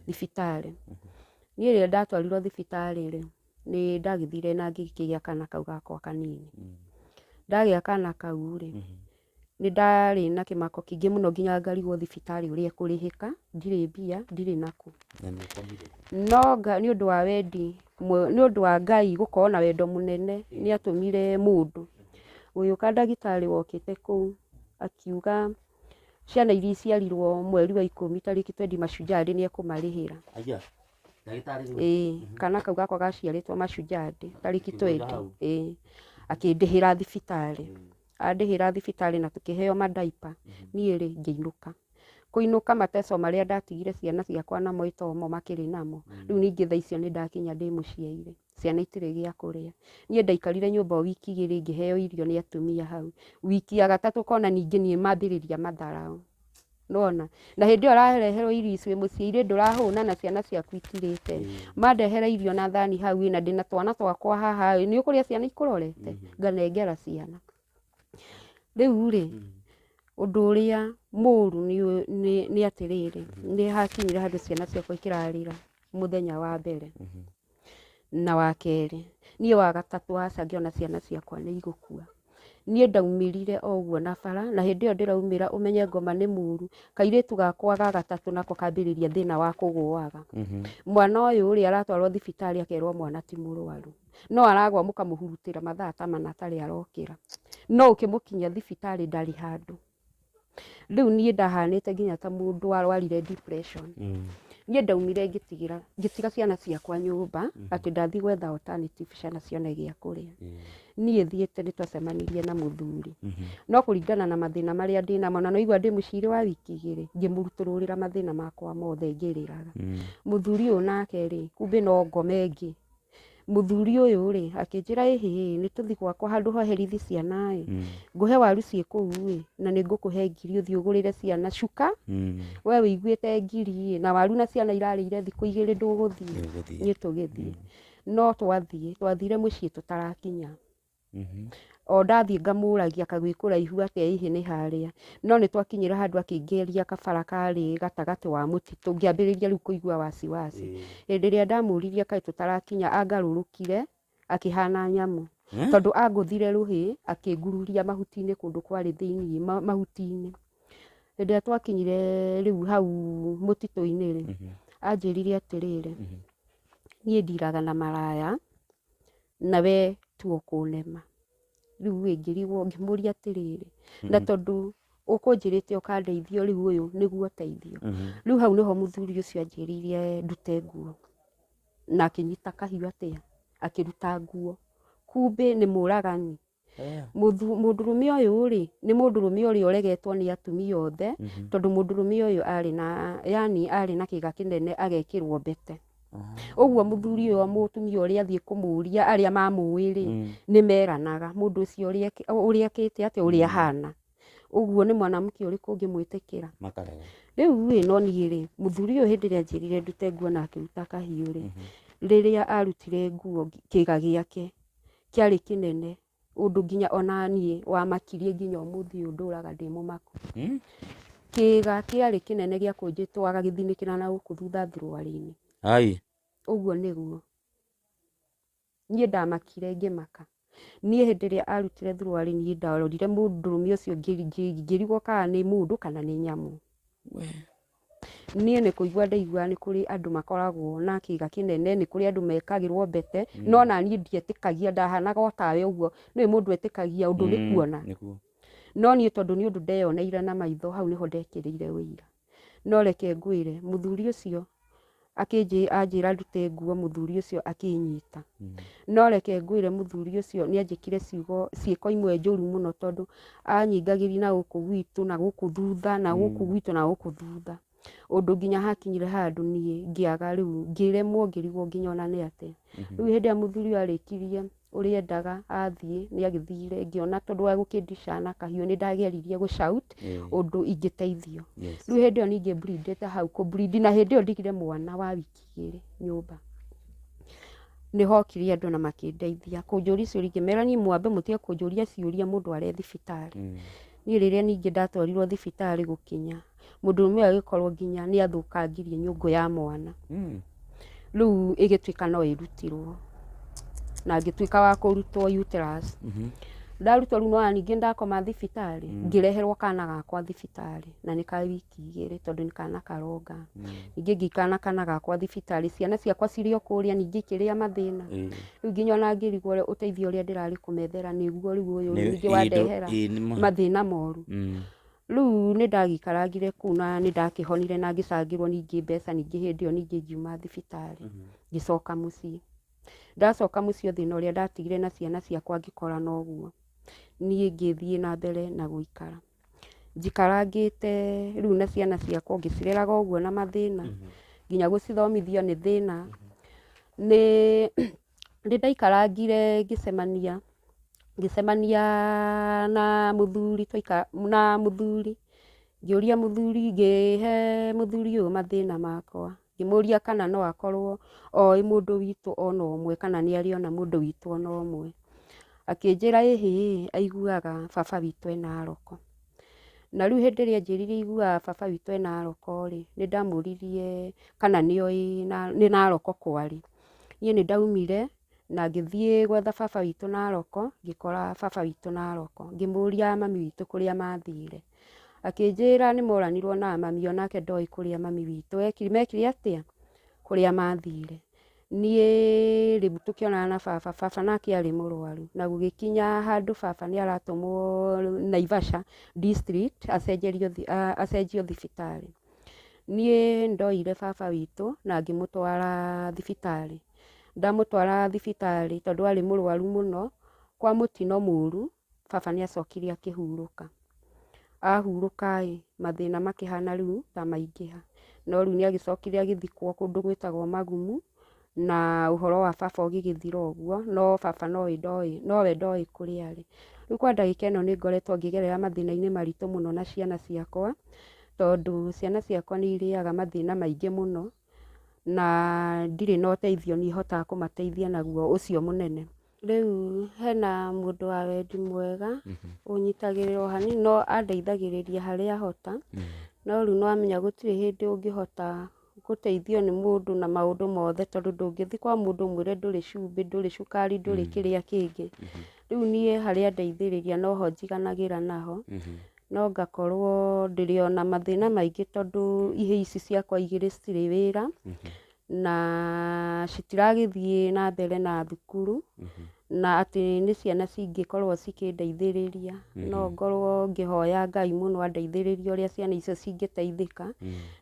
thibitarĩ. Niĩ rĩrĩa ndatwarirwo thibitarĩ-rĩ, nĩndagĩthire na ngĩkĩgĩa kana kau gakwa kanini. Ndagĩa kana kau-rĩ, Nĩ ndarĩ na kĩmako kĩingĩ mũno nginya ngarigwo thibitarĩ ũrĩa ĩkũrĩhĩka, ndirĩ mbia, ndirĩ nakũ. Na nĩ ũkomire? No Ngai nĩ ũndũ wa wendi, nĩ ũndũ wa Ngai gũkorwo na wendo mũnene nĩ atũmire mũndũ ũgĩũka ndagĩtarĩ wokĩte kũu akiuga ciana iria iciarirwo mweri wa ikũmi tarĩki twendi Mashujaa Day nĩ ekũmarĩhĩra. Aya, ndagĩtarĩ nĩ Ĩĩ, kana kau gakwa gaciarĩtwo Mashujaa Day tarĩki twendi, ĩĩ, akĩndĩhĩra thibitarĩ. andĩhĩra thibitarĩ na tũkĩheo madaipa niĩ rĩ ngĩinũka kũinũka mateso marĩa ndatigire ciana ciakwa namo itomo makĩrĩ namo rĩu ningĩ thaa icio nĩ ndakinya ndĩ mũciaire ciana itirĩ gĩa kũrĩa niĩ ndaikarire nyũmba o wiki igĩrĩ ngĩheo irio nĩ atumia hau wiki ya gatatũ kona ningĩ niĩ mambĩrĩria matharaũ nĩwona na hĩndĩ ĩyo ũrareherwo irio ici wĩ mũciĩ irĩ ndũrahũna na ciana ciaku itirĩte mandehera irio na thani hau ĩ na ndĩna twana twakwa haha ĩ nĩ ũkũrĩa ciana ikũrorete nganengera ciana rĩu rĩ ũndũ ũrĩa mũru nĩ ũ- nĩ- nĩ atĩrĩrĩ nĩ hakinyire handũ ciana ciakwa ikĩrarĩra mũthenya wa mbere na wa kerĩ, niĩ wa gatatũ aca ngĩona ciana ciakwa nĩ igũkua. Niĩ ndaumĩrire o ũguo na bara, na hĩndĩ ĩyo ndĩraumĩra ũmenye ngoma nĩ mũru, kairĩtu gakwa ga gatatũ nako kambĩrĩria thĩna wa kũgũaga. Mwana ũyũ rĩ, aratwarwo thibitarĩ akerwo mwana ti mũrwaru, no aragwa mũkamũhurutĩra mathaa ta mana atarĩ arokĩra. No ũkĩmũkinyia thibitarĩ ndarĩ handũ. Rĩu niĩ ndahanĩte nginya ta mũndũ warwarire depression. Niĩ ndaumire ngĩtigĩra, ngĩtiga ciana ciakwa nyũmba, atĩ ndathiĩ gwetha alternative ciana cione gĩa kũrĩa. Niĩ thiĩte nĩ twacemanirie na mũthuri. No kũringana na mathĩna marĩa ndĩ namo, na nĩ waigua ndĩ mũciirĩ wa wiki igĩrĩ, ngĩmũrutũrũrĩra mathĩna makwa mothe ngĩrĩraga. Mũthuri ũyũ nake rĩ, kumbe no ngome ngĩ, mũthuri ũyũ rĩ akĩnjĩra ĩhĩ nĩ tũthi gwakwa handũ hoherithi ciana ĩ Mm. ngũhe waru ciĩ kũu ĩ na nĩ ngũkũhe ngiri ũthiĩ ũgũrĩre ciana cuka Mm. we wĩiguĩte ngiri ĩ na waru na ciana irarĩire thikũ igĩrĩ ndũgũthiĩ Ndũgũthiĩ. niĩ tũgĩthiĩ no twathiĩ twathire mũciĩ tũtarakinya Mhm. o ndathiĩ ngamũragia kagwĩ kũraihu atĩa hihi nĩ harĩa no nĩ twakinyĩra handũ akĩingĩria kabara karĩ gatagatĩ wa mũtitũ ngĩambĩrĩria rĩu kũigua wasiwasi Ĩĩ. hĩndĩ ĩrĩa ndamũririe kaĩ tũtarakinya angarũrũkire akĩhana nyamũ Eh? tondũ angũthire rũhĩ akĩngururia mahuti-inĩ kũndũ kwarĩ thĩinĩ ma- mahuti-inĩ hĩndĩ ĩrĩa twakinyire rĩu hau mũtitũ-inĩ rĩ Mhm. anjĩrire atĩrĩrĩ Mhm. niĩ ndiraga na maraya na we tu ũkũnema rĩu ĩ ngĩrigwo ngĩmũria atĩrĩrĩ na tondũ ũkũnjĩrĩte ũkandeithio rĩu ũyũ nĩguo ũteithio rĩu hau nĩho mũthuri ũcio anjĩrĩire ndute nguo na akĩnyita kahiũ atĩa akĩruta nguo kumbĩ nĩ mũragani Mũthu- mũndũrũme ũyũ rĩ nĩ mũndũrũme ũrĩa ũregetwo nĩ atumia othe tondũ mũndũrũme ũyũ arĩ na yani arĩ na kĩga kĩnene agekĩrwo mbete ũguo mũthuri ũyũ wa mũtumia ũrĩa athiĩ kũmũria arĩa mamũĩ rĩ nĩ meranaga mũndũ ũcio ũrĩa ekĩ- ũrĩa ekĩte atĩa ũrĩa ahana ũguo nĩ mwanamke ũrĩkũ ũngĩmwĩtĩkĩra makarega rĩu rĩ no niĩ rĩ mũthuri ũyũ hĩndĩ ĩrĩa anjĩrire ndute nguo na akĩruta kahiũ rĩ rĩrĩa arutire nguo kĩga gĩake kĩarĩ kĩnene ũndũ nginya ona niĩ wamakirie nginya ũmũthĩ ũyũ ndũraga ndĩ mũmaku. Hmm? Kĩĩga kĩarĩ kĩnene gĩa kũnjĩtwara gĩthinĩkĩra na gũkũ thutha thuruarĩ-inĩ. Ai. Ũguo nĩguo. Niĩ ndamakire ngĩmaka. Niĩ hĩndĩ ĩrĩa arutire thuruarĩ niĩ ndarorire mũndũrũme ũcio ngĩrigwo kana nĩ mũndũ kana nĩ nyamũ. Niĩ nĩ kũigua ndaigua nĩ kũrĩ andũ makoragwo na kĩga kĩnene, nĩ kũrĩ andũ mekagĩrwo mbete, no naniĩ ndietĩkagia, ndahanaga o tawe ũguo, ndũĩ mũndũ etĩkagia ũndũ nĩ kuona. Nĩguo. No niĩ tondũ nĩ ũndũ ndeyoneire na maitho, hau nĩho ndekĩrĩire ũira. No reke ngwĩre, mũthuri ũcio, Akĩnjĩ- anjĩra ndute nguo mũthuri ũcio akĩnyita. No reke ngwĩre mũthuri ũcio nĩanjĩkire ciugo ciĩko imwe njũru mũno tondũ anyingagĩri na gũkũ gwitũ na gũkũ thutha na gũkũ gwitũ na gũkũ thutha. Ũndũ nginya hakinyire handũ niĩ ngĩaga rĩu ngĩremwo ngĩrigwo nginya ona nĩ atĩa. Rĩu hĩndĩ ĩrĩa mũthuri ũyũ arĩkirie ũrĩa endaga athiĩ nĩ agĩthire ngĩona tondũ wa gũkĩndica na kahiũ nĩ ndageririe gũ shout ũndũ ingĩteithio Yes. rĩu hĩndĩ ĩyo ningĩ mbirindĩte hau kũmburindi na hĩndĩ ĩyo ndigire mwana wa wiki igĩrĩ nyũmba nĩ hokire andũ na makĩndeithia kũnjũria ciũria ingĩmera niĩ mwambe mũtige kũnjũria ciũria mũndũ arĩ thibitarĩ Mm. niĩ rĩrĩa ningĩ ndatwarirwo thibitarĩ gũkinya mũndũrũme ũyũ agĩkorwo nginya nĩ athũkangirie nyũngũ ya mwana Mm. rĩu ĩgĩtuĩka no ĩrutirwo na ngĩtuĩka wa kũrutwo uterus Mhm. ndarutwo rĩu nona ningĩ ndakoma thibitarĩ ngĩreherwo kana gakwa thibitarĩ na nĩ ka wiki igĩrĩ tondũ nĩ kana karonga ningĩ ngĩikana kana gakwa thibitarĩ ciana ciakwa cirĩ o kũrĩa ningĩ ikĩrĩa mathĩna Ĩĩ. rĩu nginya ona ngĩrigwo ũrĩa- ũteithio ũrĩa ndĩrarĩ kũmethera nĩguo rĩu ũyũ Nĩ- ningĩ ĩĩ, ndũ- wandehera ĩĩ, nĩ ma- mathĩna moru Mm. Rĩu nĩ ndagĩikarangire kũu na nĩ ndakĩhonire na ngĩcangĩrwo ningĩ mbeca ningĩ hĩndĩ ĩyo ningĩ ngiuma thibitarĩ ngĩcoka mũciĩ ndacoka mũciĩ thĩna ũrĩa ndatigire na ciana ciakwa ngĩkora noguo niĩ ngĩthiĩ na mbere na gũikara njikarangĩte rĩu na ciana ciakwa ngĩcireraga ũguo na mathĩna nginya gũcithomithia nĩ thĩna nĩ Nĩ ndaikarangire ngĩcemania, ngĩcemania na mũthuri twaikara, na mũthuri, ngĩũria mũthuri, ngĩhe mũthuri ũyũ mathĩna makwa, ngĩmũria kana no akorwo oĩ mũndũ witũ ona ũmwe kana nĩ arĩ ona mũndũ witũ ona ũmwe, akĩnjĩra ĩ hĩ, aiguaga baba witũ ena aroko, na rĩu hĩndĩ ĩrĩa anjĩrire aiguaga baba witũ ena aroko rĩ, nĩ ndamũririe kana nĩ oĩ, nĩ na aroko kwarĩ. Niĩ nĩ ndaumire na ngĩthiĩ gwetha baba witũ Narok, ngĩkora baba witũ Narok. Ngĩmũria mami witũ kũrĩa mathire. Akĩnjĩra nĩ moranirwo na mami o nake ndoĩ kũrĩa mami witũ ekire, mekire atĩa? kũrĩa mathire. Niĩ rĩu tũkĩonana na baba, baba nake arĩ mũrwaru. Na gũgĩkinya handũ baba nĩ aratũmwo Naivasha district, acenjerio acenjio thibitarĩ. Niĩ ndoire baba witũ na ngĩmũtwara thibitarĩ, ndamũtwara thibitarĩ tondũ arĩ mũrwaru mũno, kwa mũtino mũru baba nĩ acokire akĩhurũka, ahurũka rĩ mathĩna makĩhana rĩu ta maingĩha, no rĩu nĩ agĩcokire agĩthikwo kũndũ gwĩtagwo Magumu. na ũhoro wa baba ũgĩgĩthira ũguo, no baba nowe ndoĩ nowe ndoĩ kũrĩa arĩ. Rĩu kwa ndagĩka ĩno nĩ ngoretwo ngĩgerera mathĩna-inĩ maritũ mũno na ciana ciakwa, tondũ ciana ciakwa nĩ irĩaga mathĩna maingĩ mũno, na ndirĩ na ũteithio niĩ hotaga kũmateithia naguo ũcio mũnene. Rĩu hena mũndũ wa wendi mwega, ũnyitagĩrĩra o hanini no andeithagĩrĩria harĩa ahota, no rĩu nĩ wamenya gũtirĩ hĩndĩ ũngĩhota gũteithio nĩ mũndũ na maũndũ mothe tondũ ndũngĩthiĩ kwa mũndũ ũmwĩre ndũrĩ cumbĩ, ndũrĩ cukari, ndũrĩ mm. kĩrĩa kĩngĩ. Mm -hmm. Rĩu niĩ harĩa ndeithĩrĩria noho njiganagĩra naho. Mm -hmm no ngakorwo ndĩrĩ ona mathĩna maingĩ tondũ ihĩ ici ciakwa igĩrĩ citirĩ wĩra mm -hmm. na citiragĩthiĩ na mbere na thukuru mm -hmm. na atĩ nĩ ciana cingĩkorwo cikĩndeithĩrĩria no ngorwo ngĩhoya Ngai mũno andeithĩrĩrie ũrĩa ciana icio cingĩteithĩka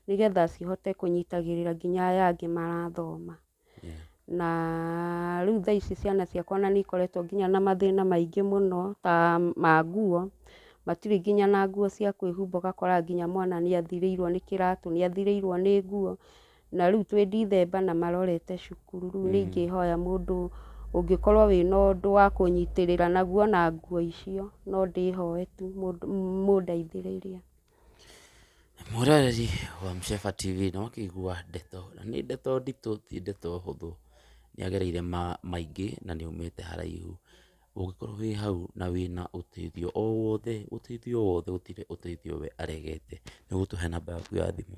nĩgetha cihote kũnyitagĩrĩra nginya aya angĩ marathoma. Na rĩu thaa ici ciana ciakwa ona nĩ ikoretwo nginya na mathĩna maingĩ mũno ta ma nguo, matirĩ nginya na nguo cia kwĩhumba ũgakora nginya mwana nĩ athirĩirwo nĩ kĩratũ, nĩ athirĩirwo nĩ nguo. na rĩu twĩ Ndithemba na marorete cukuru, rĩu nĩ ingĩhoya mũndũ ũngĩkorwo wĩna ũndũ wa kũnyitĩrĩra naguo na nguo icio, no ndĩhoe tu mũndũ mũndeithĩrĩrie. Mwĩroreri wa Msheba TV nĩ wakĩigua ndeto, na nĩ ndeto nditũ ti ndeto hũthũ, nĩ agereire maingĩ na nĩ aumĩte haraihu. Ũngĩkorwo wĩ hau na wĩna ũteithio o wothe, ũteithio o wothe gũtirĩ ũteithio we aregete, nĩ ũgũtũhe namba yaku ya thimũ.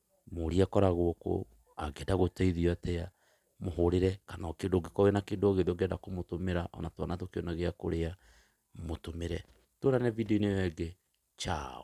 mũrie akoragwo kũ, angĩenda gũteithio atĩa, mũhũrĩre, kana o kĩndũ ũngĩkorwo wĩna kĩndũ o gĩothe ũngĩenda kũmũtũmĩra, ona twana tũkĩone gĩa kũrĩa, mũtũmĩre. Tuonane video-inĩ ĩyo ĩngĩ, ciao.